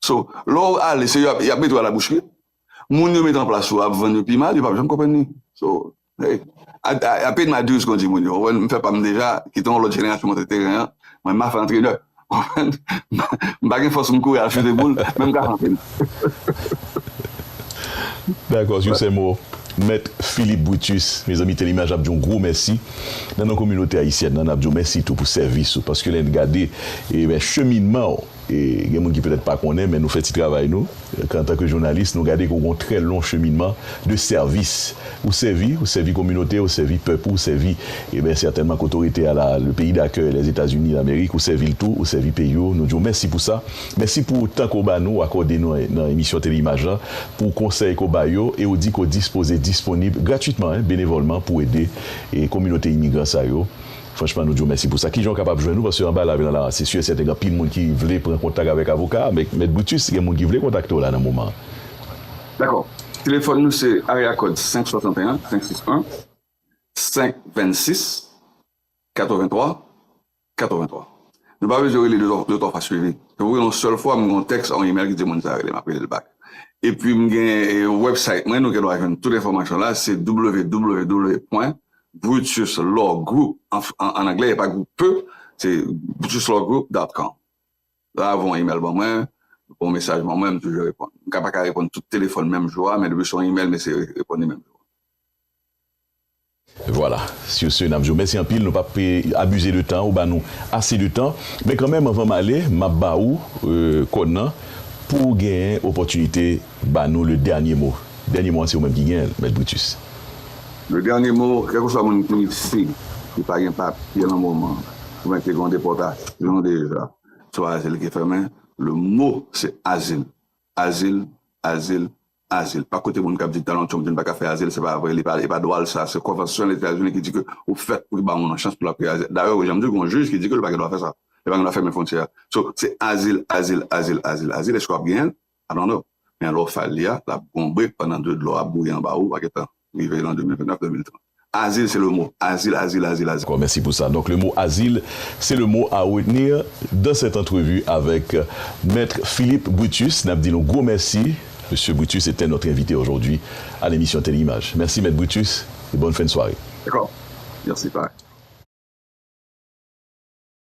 So lè w ale se yo yap mete w a la bouch wi moun yo met an plas yo ap vann yo pi mal yo pap janm konprann li so hey I paid my dues kon di moun yo ou wè m fè pa m deja kite yon lòt jenerasyon monte teren an mwen ma fè antrenè m pa gen fòs pou m kouri al chute boul men m ka fè Dakò sou sè mo mèt Philippe Brutus mezanmi Telimaj ap di yon gwo mèsi nan non kominote ayisyèn nan n ap di w mèsi tou pou sèvis ou paske lè n gade cheminman w. Gen moun ki petèt pa konnen men nou fè ti travay nou antanke jounalis nou gade ke w gen yon trè long cheminman de sèvis ou sèvi ou sèvi kominote ou sèvi pèp ou sèvi enben sètènman ke otorite a la le peyi dakèy Lèzetazini Lamerik ou sèvi l tou ou sèvi peyi w nou di w mèsi pou sa mèsi pou tan ke w ba nou w akòde nou nan emisyon Teleimaj la pou konsèy ke w bay yo e w di ke w dispoze disponib gratitman en benevòlman pou ede kominote imigran sa yo. Franchman nou di w mèsi pou sa. Kijan w kapab jwenn nou paske anba lavi lan la se si e sèten gen anpil moun ki vle pran kontak avèk avoka a men mèt Brutus gen moun ki vle kontakte w la nan moman an. Dakò. Telefòn nou se area kòd 561 561 526 83 83 nou pa bezwen rele 2 3 fwa swivi se pou w rele yon sèl fwa m gen yon tèks a yon email ki di moun sa rele m ap rele l bak epi m gen wèbsayt mwen nou gen dwa jwenn tout enfòmasyon la se www. Brutus Law Group, an anglè, e pa group pe, se brutuslawgroup dòt kòm. Lè a voye yon imèl ban mwen, voye yon mesaj ban mwen, m toujou reponn. M ka pa ka reponn tout telefòn menm jou a, men depi se yon imèl m eseye reponn li menm jou a. Vwala, sou se n ap di w mèsi anpil, nou p ap abize de tan, ou ba nou ase de tan. Men kanmenm anvan m ale, m ap ba ou kòn nan pou w genyen opòtinite. Ba nou le dernier mot. Dernier mot an se ou menm ki genyen l Mèt Brutus. Le dernier mot, kèlkeswa moun ki si ki pa gen papye nan moman oubyen ki gen yon depòtasyon deja sou azil ki fè men le mot se azil, azil, azil, azil. Pa koute moun kap di Donald Trump di li pa ka fè azil se pa vre li pa e pa dwa l sa se konvansyon Lèzetazini ki di ke ou fèt pou ba yon moun chans pou lap fè azil dayè ou janm di w gen yon jij ki di ke li pa gen dwa fè sa li pa gen dwa fèmen fwontyè a so se azil, azil, azil, azil, azil eske wap genyen l I don't know men lè w fè li a lap gonbre pandan de dlo ap bouyi anba ou pa gen tan rive lan 2029 2030 Azil se le mo Azil Azil Azil Azil. Dacò mèsi pou sa donk le mo Azil se le mo a retenir dan sèt antrevi avèk Maitre Philippe Brutus nap di nou gwo mèsi Mesye Brutus etè notre envite ojodwi a lemisyon Tele Imaj mèsi Mèt Brutus e bòn fen sware. Dacò mèsi pa.